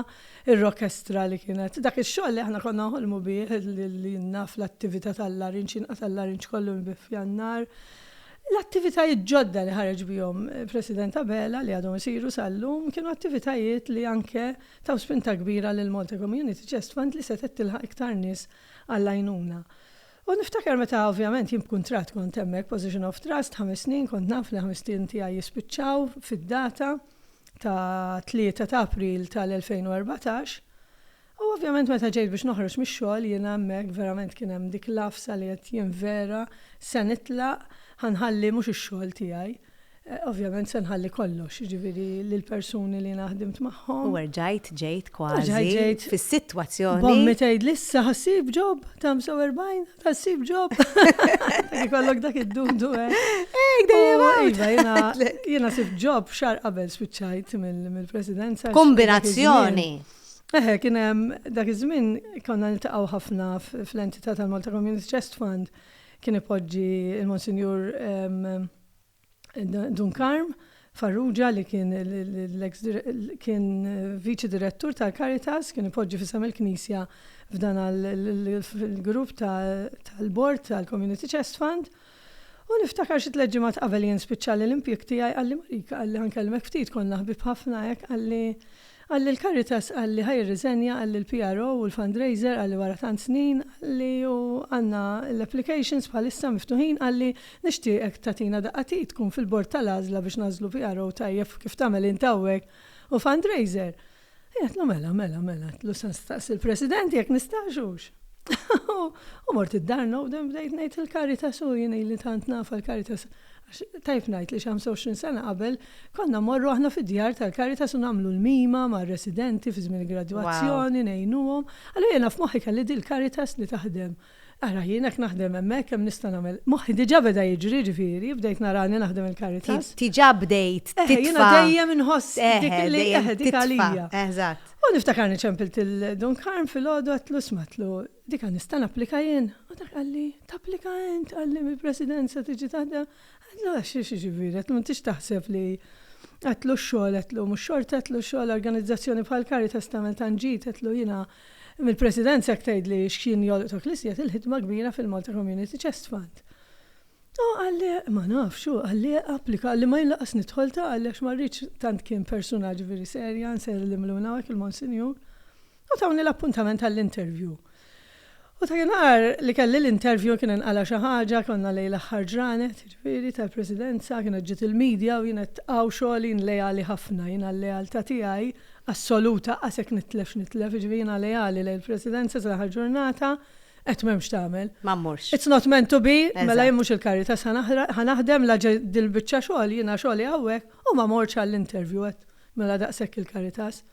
ir-rokestra li kienet. Dak ix-xogħol li aħna konna nħolmu bih li naf l-attività tal-larinċ, inqas tal-larinċ kollu nbif f'jannar. L-attivitajiet ġodda li ħareġ bihom eh, President Abela li għadhom isiru sal-lum kienu attivitajiet li anke taw spinta kbira lill-Malta Community Chest Fund li setgħet tilħaq iktar nies għall-għajnuna. U niftakar meta ovvjament jien b'kuntratt kont hemmhekk, position of trust, ħames snin, kont naf li ħames snin tiegħi jispiċċaw fid-data ta' 3 ta' April tal-2014. U ovvjament meta ġejt biex noħroġ mix-xogħol jiena hemmhekk verament kien hemm dik l-għafsa li għedt jien vera se nitlaq, ħa nħalli mhux ix-xogħol tiegħi. Ovvjament se nħalli kollox, jiġifieri lill-persuni li jiena ħdimt magħhom. U erġajt ġejt kważi fis-sitwazzjoni. B'ommi tgħidli issa ħa ssib job ta' 45, ħa ssib job. Ikollok dak id-dudu hekk. Hekk dejjem iva, jiena sibt job xahar qabel spiċċajt mill-presidenza. Kombinazzjoni. Eħe, kien hemm dak iż-żmien konna niltaqgħu ħafna fl-entità tal-Malta Community Chest Fund kien ipoġġi l-Monsinjur Dun Karm Farrugia li kien l-eks kien viċi direttur tal-Caritas, kien ipoġġi f'isem il-Knisja f'dan il-grupp tal-bord tal-Community Chest Fund. U niftakar xi tliet ġimgħat qabel jien spiċċalli l-impjieg tiegħi qalli Marika qalli ħankellmek ftit konna ħbieb ħafna hekk qalli Qal li l-Caritas qal li ħa jirriżenja, qal li l-PRO u l-fundraiser qal li wara tant snin, qal li hu għandna l-applications bħalissa miftuħin, qal li nixtieqek tagħtina daqqa t'id tkun fil-bord tal-għażla biex nagħżlu PRO tajjeb kif tagħmel int hawnhekk u fundraiser. Jien għedtlu mela, mela, mela, għedtlu se nistaqsi l-President jekk nistax hux. U mort id-dar nowden bdejt ngħid il-Caritas u jien ili tant nafha l-Caritas Għax tajjeb ngħid li xi 25 sena qabel konna mmorru aħna fid-djar tal-Caritas u nagħmlu l-mima mar-residenti fi żmien il-gradwazzjoni, ngħinuhom. Allura jiena f'moħħi kelli din il-Caritas li taħdem. Ara jien hekk naħdem hemmhekk, hemm nista' nagħmel. Moħħi diġà beda jiġri jiġifieri, bdejt narani naħdem il-Caritas. Diġà bdejt titfa'. Eħe, jiena dejjem inħoss dik li eħe, dik għalija. Eżatt. U niftakar li ċempilt lil Dun Karm filgħodu għedtlu isma' għedtlu, Dik għad nista' napplika jien? U dak qalli, Tapplika int, qalli, mill-Presidenza tiġi taħdem. Għedtlu, Għax xi ġifieri? Għedtlu, M'intix taħseb li, għedtlu, x-xogħol, għedtlu, mhux xorta, għedtlu, x-xogħol organizzazzjoni bħal Caritas tagħmel tant ġid, għedtlu, jiena mill-Presidenza jekk tgħidli x'kien jolqot u klisjet il-ħidma kbira fil-Malta Community Chest Fund. U qalli, Ma nafx, hu qalli, Applika, qalli, ma jien lanqas nidħol ta' qalli għax ma rridx tant kien persuna ġifieri serja, nsellmlu minn hawn hekk il-Monsinjur. U tawni l-appuntament għall-interview. U dakinhar li kelli l-interview kien inqala' xi ħaġa, konna lejn l-aħħar ġranet, jiġifieri, tal-Presidenza, kienet ġiet il-media u jien qed hawn xogħol jien leali ħafna, jiena l-lealtà tiegħi assoluta qas jekk nitlef x'nitlef, jiġifieri jiena leali lejn il-Presidenza sa l-aħħar ġurnata, qed m'hemm x'tagħmel. Ma mmurx. It's not meant to be, mela jien mhux il-Caritas ħa naħdem la dil-biċċa xogħol, jiena xogħli hawnhekk u ma mortx għall-interview qed mela daqshekk il-Caritas.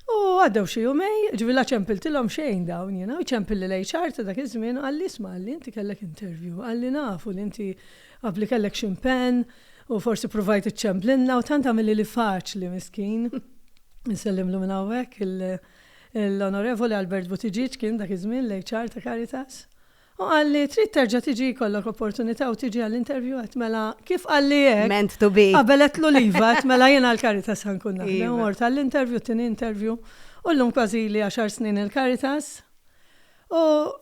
U għaddew xi jumej, ġifieri la ċempiltilhom xejn dawn jiena, u ċempilli l-HR ta' dak iż-żmien u qalli, isma' qalli inti kellek interview, qalli nafu li inti qabli kellek xi mpenn u forsi pruvajt iċċemplilna u tant għamillili faċli miskin, insellimlu minn hawnhekk, l-Onorevoli Albert Buttigieg kien dak iż-żmien l-HR ta' Caritas, Hu qal li trid terġa' tiġi jkollok opportunità u tiġi għall-interview għedt mela kif qalli hekk Meant to be. qabel għedtlu l-iva għedt mela jien għall-Caritas ħa nkun naħdem u mort għall-interview t-tieni interview u llum kważi ili għaxar snin il-Caritas u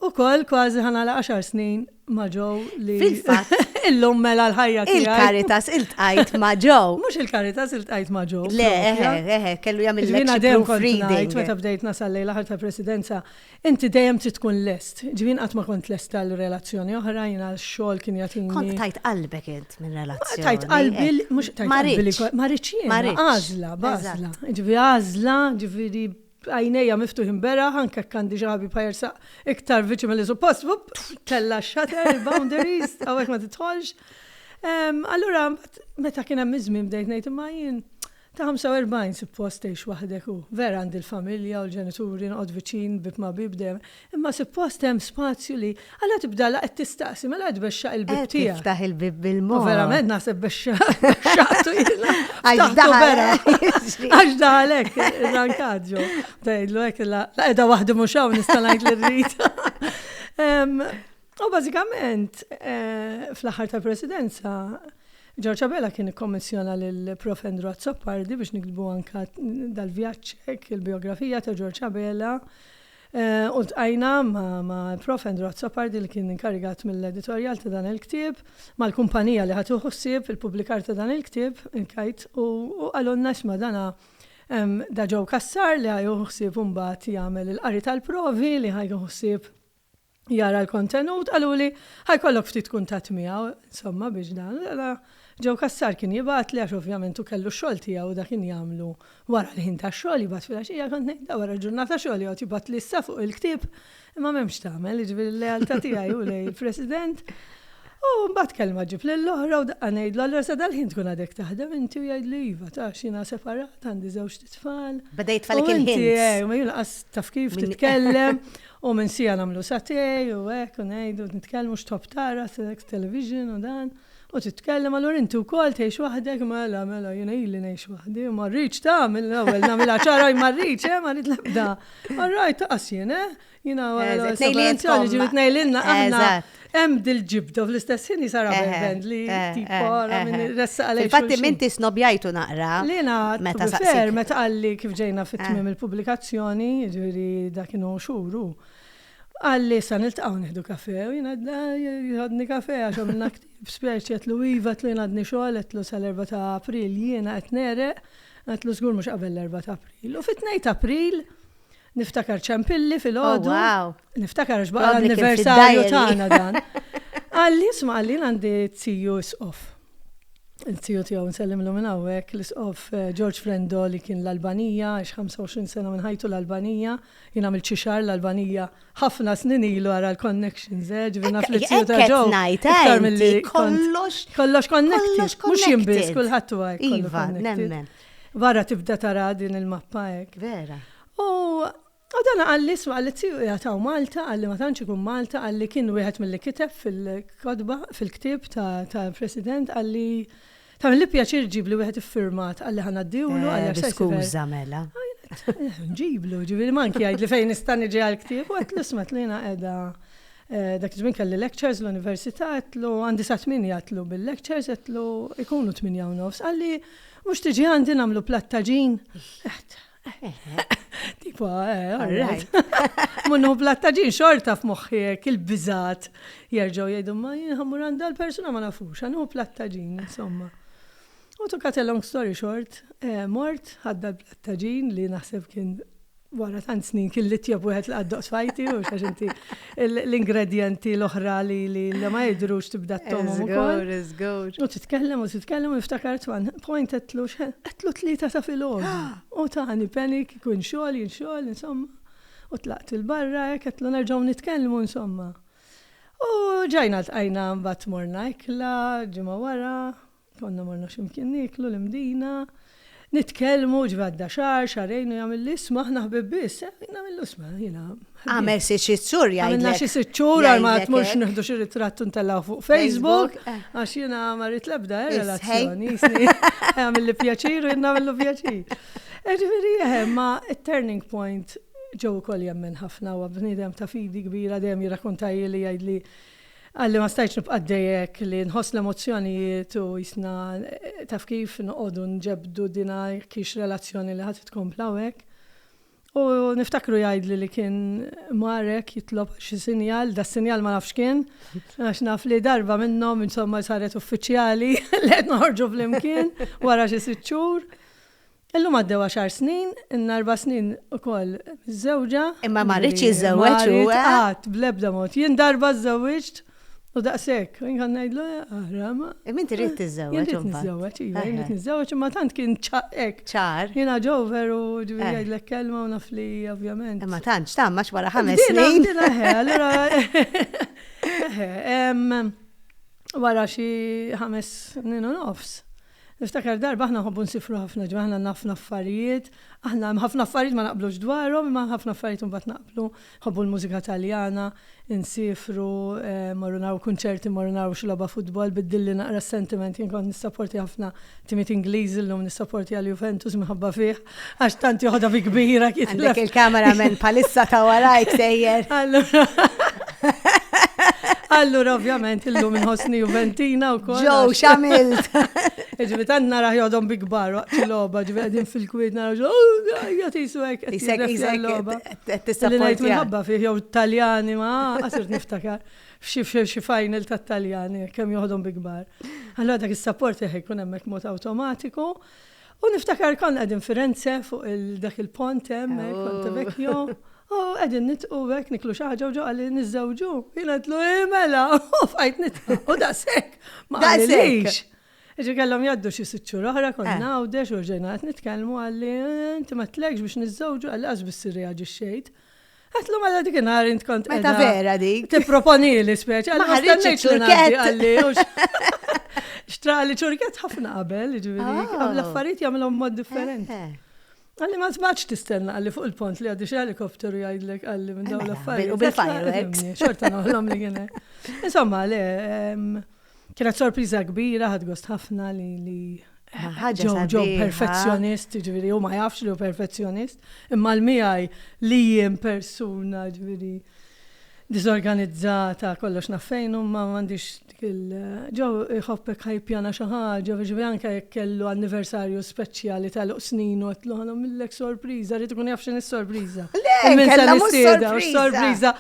ukoll kważi ħa nagħlaq għaxar snin ma' Joe li Fil-fatt. illum mela l-ħajja tiegħi. Il-Caritas iltqajt ma' Joe. Mhux il-Caritas iltqajt ma' Joe. Le, propja. eħe, eħe, kellu jagħmilek Jiena xi dejjem kont ngħid proofreading. meta bdejt nasal lejn l-aħħar tal-Presidenza Inti dejjem trid tkun lest. Jiġifieri jien qatt ma kont lest għal relazzjoni oħra, jiena x-xogħol kien jagħtini. Kont tajt qalbek int minn relazzjoni. Tajt qalbi, mhux tajt qalbi. Ma rridx jiena, għażla, b'għażla. Jiġifieri għażla, jiġifieri għajnejja miftuħin beraħ, anke jekk għandi xi ħabib ħa jersaq iktar viċin milli suppost, vupp, tella' x-shutter, il-boundaries, hawnhekk ma tidħolx. Allura, meta kien hemm iż-żmien bdejt ngħid imma jien Ta' 45 suppost tgħix waħdek u, vera għandi l-familja u l-ġenituri noqgħod viċin bieb ma' bieb dejjem imma suppost hemm spazju li għala tibda la qed tistaqsi mela qed bexxaq il-bieb tiegħek. Qed tiftaħ il-bieb bil-mod. U verament naħseb bexxaqtu jiena. Għax daħal. Għax daħal hekk irrankat ġo. Tgħidlu hekk la qiegħda waħdi mhux hawn nista' ngħid li rrid. U bażikament, fl-aħħar tal-Presidenza, George Abela kien ikkommissjona lil Prof. Andrew Azzopardi biex niktbu anke dal-vjaġġ hekk il-bijografija ta' George Abela. U ltqajna ma' Prof. Andrew Azzopardi li kien inkarigat mill-editorjal ta' dan il-ktieb, mal-kumpanija li ħadet ħsieb il-pubblikar ta' dan il-ktieb, il-KITE, u qalulna isma' dan da Joe Cassar li ħa jieħu ħsieb imbagħad jagħmel il-qari tal-provi li ħa jieħu ħsieb jara l-kontenut, qaluli ħa jkollok ftit kuntatt miegħu, insomma biex dan, mela Joe Cassar kien jibgħatli għax ovvjament hu kellu x-xogħol tiegħu u dak kien jagħmlu wara l-ħin tax-xogħol, jibgħat filgħaxija, kont ngħid le wara l-ġurnata xogħol joqgħod jibgħatli issa fuq il-ktieb, imma m'hemm x'tagħmel, jiġifieri l-lealtà tiegħi hu lejn il-President. U mbagħad kelma ġib lill-oħra u daqqa ngħidlu allura sa dal-ħin tkun għadek taħdem inti u jgħidli iva taf jiena separat għandi żewġt tfal. Beda jitfalek il-ħin. Eh, ma jiena qas taf kif titkellem. U minn siegħa nagħmlu saté u hekk u ngħidu u nitkellmu x'tħobb tara, sex, television u dan. U titkellem, allura inti wkoll tgħix waħdek? Mela, mela, jiena ili ngħix waħdi u ma rridx ta' mill-ewwel nagħmilha ċara li ma rridx, eh, ma rrid l-ebda. All right, ta' qasjien, eh? Jiena wara l-ewwel separazzjoni ġieli tnejlilna aħna. Hemm dil-ġibda fl-istess ħin jisara band li tipara minn ressa għalek. Infatti minti snobjajtu naqra. Lina meta saqsir meta qalli kif ġejna fit-tmiem il-pubblikazzjoni, ġifieri dak inhu xhuru. Qalli sa niltaqgħu nieħdu kafe u jiena jħodni kafe għax għamilna ktib speċi qedlu iva tlu jiena għadni xogħol qedlu sal-4 ta' April jiena qed nereq qedlu żgur mhux qabel l-4 ta' April. U fit-2 ta' April Niftakar ċempilli fil-ħodu. Oh, wow. Niftakar għax baqa l-anniversarju tagħna dan. Għalli, sma għalli għandi t-siju isqof. T-siju tiegħu nsellim l minn hawnhekk l-isqof eh, George Frendo li kien l-Albanija, għax 25 sena minn ħajtu l-Albanija, jien għamil ċixar l-Albanija ħafna snin ilu għara l-connections, eh, ġivina fl-siju ta' ġo. Kollox. Kollox connected. Mux jimbis kullħat u għaj. Iva, nemmen. Vara tibda tara din il-mappa hekk. Vera. U U dan għalli isma għalli tiju jgħataw Malta, għalli ma tantx ikun Malta, għalli kien wieħed mill-li kiteb fil-kodba, fil-ktib ta' president, għalli Ta' li pjaċir ġibli wieħed iffirmat għalli ħana d-diwlu eh, għalli Skuża mela. Ġiblu, ġibli manki għajd li fejn nistan iġi għal-ktib, u għat l-ismat li edha. Eh, dak ġmin kelli lectures l-università għatlu għandi sa' tminja għatlu bil-lectures għatlu ikunu tminja u nofs. Għalli Mhux tiġi għandi nagħmlu platt ta' ġin? Tipo, eh, all right. Munnu platt ta' ġin xorta f'moħħi hekk il-biżat jerġgħu jgħidu ma jinħammur għandha l-persuna ma nafux, għandu platt ta' ġin, insomma. U to cut a long story short, eh, mort ħadda l-platt ta' ġin li naħseb kien wara tant snin kien li tjeb wieħed li għaddoq sfajti, u xax inti l-ingredienti l-oħra li li ma jidrux tibda t-tomu. U titkellem u titkellem u niftakar twan, point għetlu xħen, għetlu tlieta ta' filgħod. U tani penik, kun xogħol, jien xogħol, insomma. U tlaqt il-barra, għetlu nerġgħu nitkellmu, insomma. U ġajna tqajna mbagħad morna ikla, ġimgħa wara, Konna morna xi mkien nieklu, l-Imdina, nitkellmu, ġifieri għadda xahar, xahrejn u jagħmilli isma' aħna ħbieb biss, nagħmillu isma' jiena. Għamel xi sitt xhur jgħidlek. Għamilna xi sitt xhur għal ma tmurx nieħdu xi ritratt u ntellgħu fuq Facebook għax jiena ma rrid l-ebda relazzjoni. Għamilli pjaċir u jien nagħmillu pjaċir. Ġifieri eħe, ma turning point ġew ukoll jemmen ħafna u bniedem ta' fidi kbira dejjem jirrakkontaj li jgħidli Qalli ma stajtx nibqa' għaddej hekk li nħoss l-emozzjonijiet u qisna taf kif noqogħdu nġebbdu dina jekk hix relazzjoni li ħa titkompla u hekk. U niftakru jgħidli li kien mar hekk jitlob għal xi sinjal, das-sinjal ma nafx x'kien għax naf li darba minnhom insomma saret uffiċjali li qed noħorġu flimkien wara xi sitt xhur. Illum għaddew għaxar snin, ilna erba' snin ukoll miżżewġa. Imma ma rridx jiżżewweġ hu, eh? Ma rrid qatt, bl-ebda mod. Jien darba żżewwiġt u daqshekk. Jien kont ngħidlu, ara ma. Imma inti rrid tiżżewweġ. Jien rrid niżżewweġ, iva, jien rrid niżżewweġ, imma tant kien hekk. Ċar. Jien age over u ġifieri jgħidlek kelma u naf li ovvjament. Imma tantx tgħamm għax wara ħames snin. Din eħe, allura. Eħe, wara xi ħames snin u nofs. Niftakar darba aħna nħobbu nsiffru ħafna, ġifieri aħna għandna ħafna affarijiet, aħna hemm ħafna affarijiet ma naqblux dwarhom imma ħafna affarijiet imbagħad naqblu, nħobbu l-mużika Taljana, insiefru, mmorru naraw kunċerti, mmorru naraw xi logħba futbol, biddilli naqra s-sentiment, jien kont nissapportja ħafna timiet Ingliżi llum nissapportja l-Juventus minħabba fih. Għax tant joħodha bi kbira kif. Għandek il-kamera minn palissa ta' warajk sejjer. Allura. Allura, ovvjament, illum inħossni Juventina u kol. Ġow, xamilt. Ġivi, tant nara jodom bi kbar, ċiloba, ġivi, għedin fil-kwid, nara ġo, oh, jgħati jisu għek. Isek, isek, tista' ngħid minħabba fih, jew Taljani, ma, għasir niftakar. F'xi final ta' Taljani, kemm joħodhom bi kbar. Allora dak is-sapport jekk ikun hemmhekk mod awtomatiku. U niftakar konna qegħdin Firenze fuq dak il-pont hemm eh, Ponte Vecchio. U qegħdin nitqu hekk niklu xi ħaġa u ġo qalli niżżewġu. Jien għedlu eh, mela, u fajt nitqu. U daqshekk. Ma qalilix. Ġi kellhom jgħaddu xi sitt xhur oħra konna eh. għawdex u ġejna qed nitkellmu għalli eh, inti ma tlekx biex niżżewġu għalli qas biss irreaġixxejt. Għatlu ma dik nar int kont. Meta vera dik. Tipproponi li speċa. Ma ħarġitx ċurket. Xtra li ċurket ħafna qabel, ġiviri. Ah. L-affarijiet jagħmlhom mod differenti. Eh, eh. Għalli ma tbaċ tistenna għalli fuq il-pont li għaddi xelikopteru jgħidlek għalli minn dawn eh, mela, l-affarijiet. U bil-fireworks. Xorta noħlom li għene. Insomma, le, Kienet sorpriża kbira, ħadt gost ħafna li li ħaġa ġew perfezzjonist, ġifieri u ma jafx li hu perfezzjonist, imma l-miegħi li jien persuna ġifieri diżorganizzata kollox naffejn ma m'għandix dik il ġew iħobbek ħajpjana xi ħaġa, ġifieri anke jekk kellu anniversarju speċjali ta' luq snin u qed ħana millek sorpriża, rrid ikun jaf x'inhi sorpriża. Le, kellha mhux sorpriża.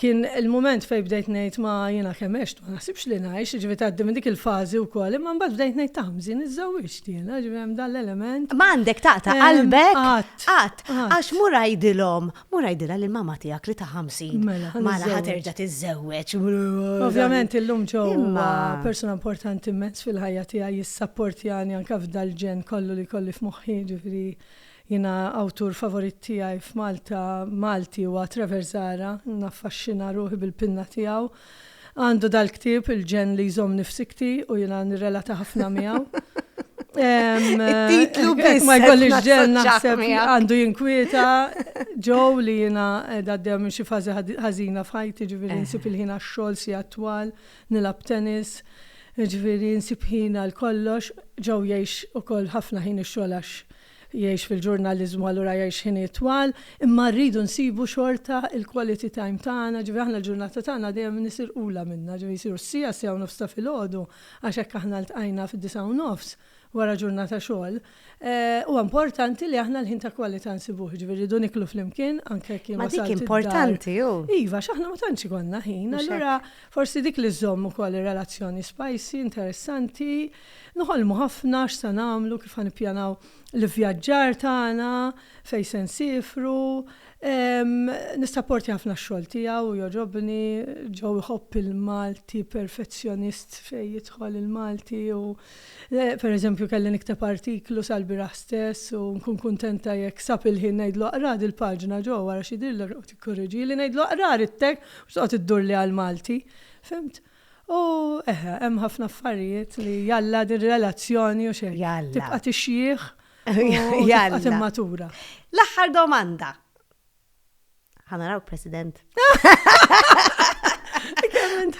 Kien il-mument fejn bdejt ngħid ma jiena kemm għext ma naħsibx li ngħix, jiġifieri tgħaddi minn dik il-fażi wkoll, imma mbagħad bdejt ngħid ta' ħmżin iżżewwiġt jiena, jiġifieri hemm dan l-element. Ma għandek taqta' qalbek? Qatt. Qatt. Għax mur għidilhom, mur għidilha lil mamma tiegħek li ta' ħamsin. Mela, ħa niżżewweġ. Mela ħa terġa' tiżżewweġ. Ovvjament illum Joe huwa persuna importanti immens fil-ħajja tiegħi, jissapportjani anke f'dal-ġenn kollu li jkolli f'moħħi, jiġifieri Jiena awtur favorit tiegħi f'Malta Malti huwa Trevor Zahra, naffaxxina ruħi bil-pinna tiegħu. Għandu dal-ktieb, il-ġenn li jżommni f'sikti u jiena nirrelata ħafna miegħu. It-titlu biss. Ma jkollix ġen naħseb għandu jinkwieta ġew li jiena għaddew minn xi fażi ħażina f'ħajti ġifieri eh. nsib il-ħin għax-xogħol si attwal, nilab tennis, ġifieri nsib ħin għal kollox, ġew jgħix ukoll ħafna ħin ix-xogħol għax Jgħix fil-ġurnaliżmu allura jgħix ħinijiet twal, imma rridu nsibu xorta l-quality time tagħna, ġifieri aħna l-ġurnata tagħna dejjem nisirqulha minnha, ġifieri jsiru s-siegħa, s-siegħa u nofs ta' filgħodu għax hekk aħna ltqajna fid-disgħa u nofs wara ġurnata xogħol. Huwa importanti li aħna l-ħin ta' kwalità nsibuh, ġifieri rridu niklu flimkien anke jekk jien wasalt id-dar. Ma dik importanti hu. Iva, għax aħna ma tantx ikollna ħin, allura forsi dik li żżomm ukoll ir-relazzjoni spicy, interessanti. Noħolmu ħafna x'se nagħmlu, kif ħa nippjanaw l-ivvjaġġar tagħna, fejn se nsiefru. Nissapporti ħafna x-xogħol tiegħu, jogħġobni. Joe iħobb il-Malti, perfezzjonist fejn jidħol il-Malti u per eżempju kelli nikteb artiklu sal-bieraħ stess u nkun kuntenta jekk sab il-ħin ngħidlu aqra din il-paġna Joe wara xi jidhirlek u tikkorreġili, ngħidlu aqra ridtek mhux toqgħod iddurli għall-Malti. Fhimt? U eħe, hemm ħafna affarijiet li jalla din relazzjoni u xejn. Jalla. Tibqa' tixjieħ u tibqa' timmatura. L-aħħar domanda. Ħa narawk President.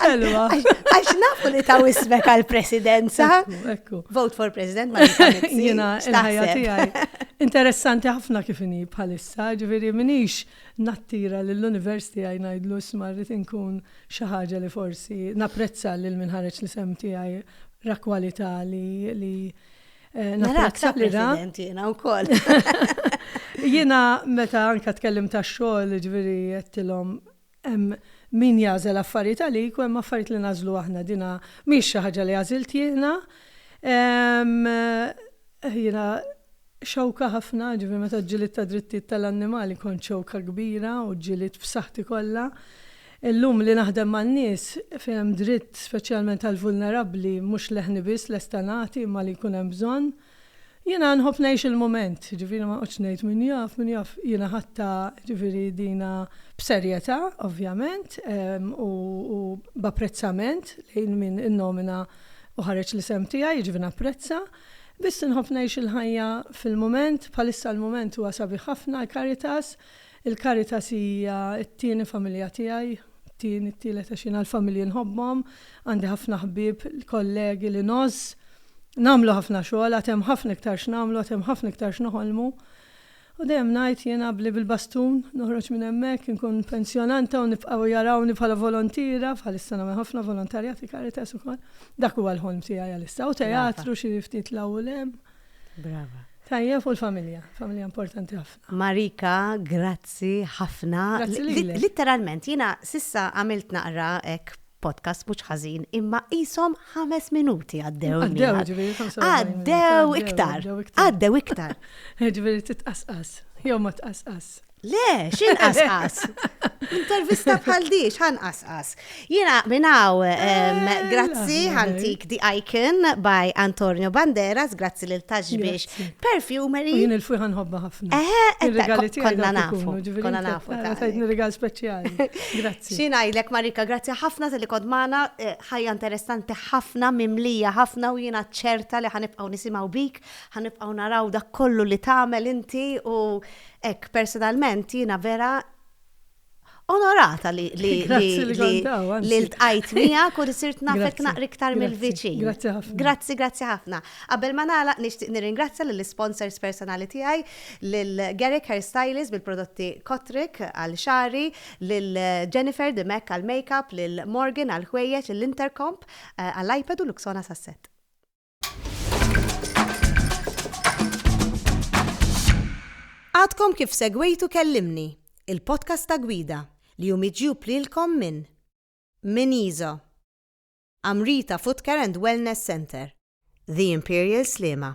Ħelwa. Għax nafu li ta' wismek għal-presidenza. Ekku. Vote for president ma Jena, il-ħajja tijaj. Interessanti ħafna kif inhi bħalissa, ġifieri minix nattira lill-university għaj ngħidlu smarrit inkun Xi ħaġa li forsi napprezza lil min ħareġ l-isem tiegħi ra kwalità li li Narak sa president jiena wkoll. Jiena meta anka tkellim ta' xogħol ġifieri jettilhom hemm min jażel affarijiet għalik u hemm affarijiet li nażlu aħna dina mhix xi ħaġa li għażilt jiena. Jiena Xewka ħafna, jiġifieri meta ġġielidt tad-drittijiet tal-annimali kont xewka kbira u ġġielidt b'saħħti kollha. Illum li naħdem man-nies fejn hemm dritt speċjalment għall-vulnerabbli mhux leħni biss lesta nagħti imma li jkun hemm bżonn. Jiena nħobb ngħix il-mument, jiġifieri ma noqgħodx ngħid min jaf, min jaf, jiena ħadtha jiġifieri dina b'serjetà ovvjament u b'apprezzament lejn min innomina u ħareġ l-isem tiegħi, jiġifieri napprezza. Biss inħobb ngħix il-ħajja fil-mument, bħalissa l-mument huwa sabiħ ħafna għal Caritas. Il-Caritas hija t-tieni familja tiegħi, t-tieni, t-tielet għax jiena l-familji nħobbhom, għandi ħafna ħbieb, kollegi li ngħożż. Nagħmlu ħafna xogħol, għad hemm ħafna iktar x'nagħmlu, għad hemm ħafna iktar x'noħolmu. U dejjem ngħid jiena bli bil-bastun noħroġ minn hemmhekk, inkun pensjonanta u nibqgħu jarawni bħala volontiera, bħalissa nagħmel ħafna volontarjat fi Caritas ukoll. Dak huwa l-ħolm tiegħi għalissa. U teatru xi ftit 'l hawn u 'l hemm. Brava. Tajjeb u l-familja, familja importanti ħafna. Marika, grazzi ħafna. Grazzi lilek. Litteralment, jiena s'issa għamilt naqra hekk podcast mhux ħażin, imma qishom ħames minuti għaddew. Għaddew, ġifieri 45 Għaddew iktar. Għaddew iktar. Ġifieri titqasqas, jew ma tqasqas. Le, xin qasqas? Intervista bħal di, xan qasqas? Jena minnaw, eh, grazzi ħantik di Icon by Antonio Banderas, grazzi lil taġbiex Perfumery. Jien il-fuj ħanħobba ħafna. Eh, eh, eh konna nafu. Konna nafu. Tajtni rigal speċjali. Grazzi. Xi ngħidlek Marika, grazzi ħafna talli kont magħna, ħajja interessanti ħafna, mimlija ħafna u jiena ċerta li ħa nibqgħu nisimgħu bik, ħa nibqgħu naraw dak kollu li tagħmel inti u hekk personalment jiena vera onorata li li li ltqajt miegħek u li sirt nafek naqri iktar mill-viċin. Grazzi ħafna. Grazzi, grazzi ħafna. Qabel ma nagħlaq nixtieq nirringrazzja lill-isponsors personali tiegħi lil Garrick Hairstylist bil-prodotti Kotrick għal xari, lil Jennifer the Mac għall-makeup, lil Morgan għall-ħwejjeġ, lil Intercomp għall-iPad u Luxonas għas-set. Għadkom kif segwejtu Kellimni, il-podcast ta' gwida li hu miġjub lilkom minn Min Iso, Amrita Footcare and Wellness Centre, The Imperial Sliema,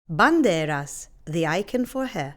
Banderas, the icon for hair,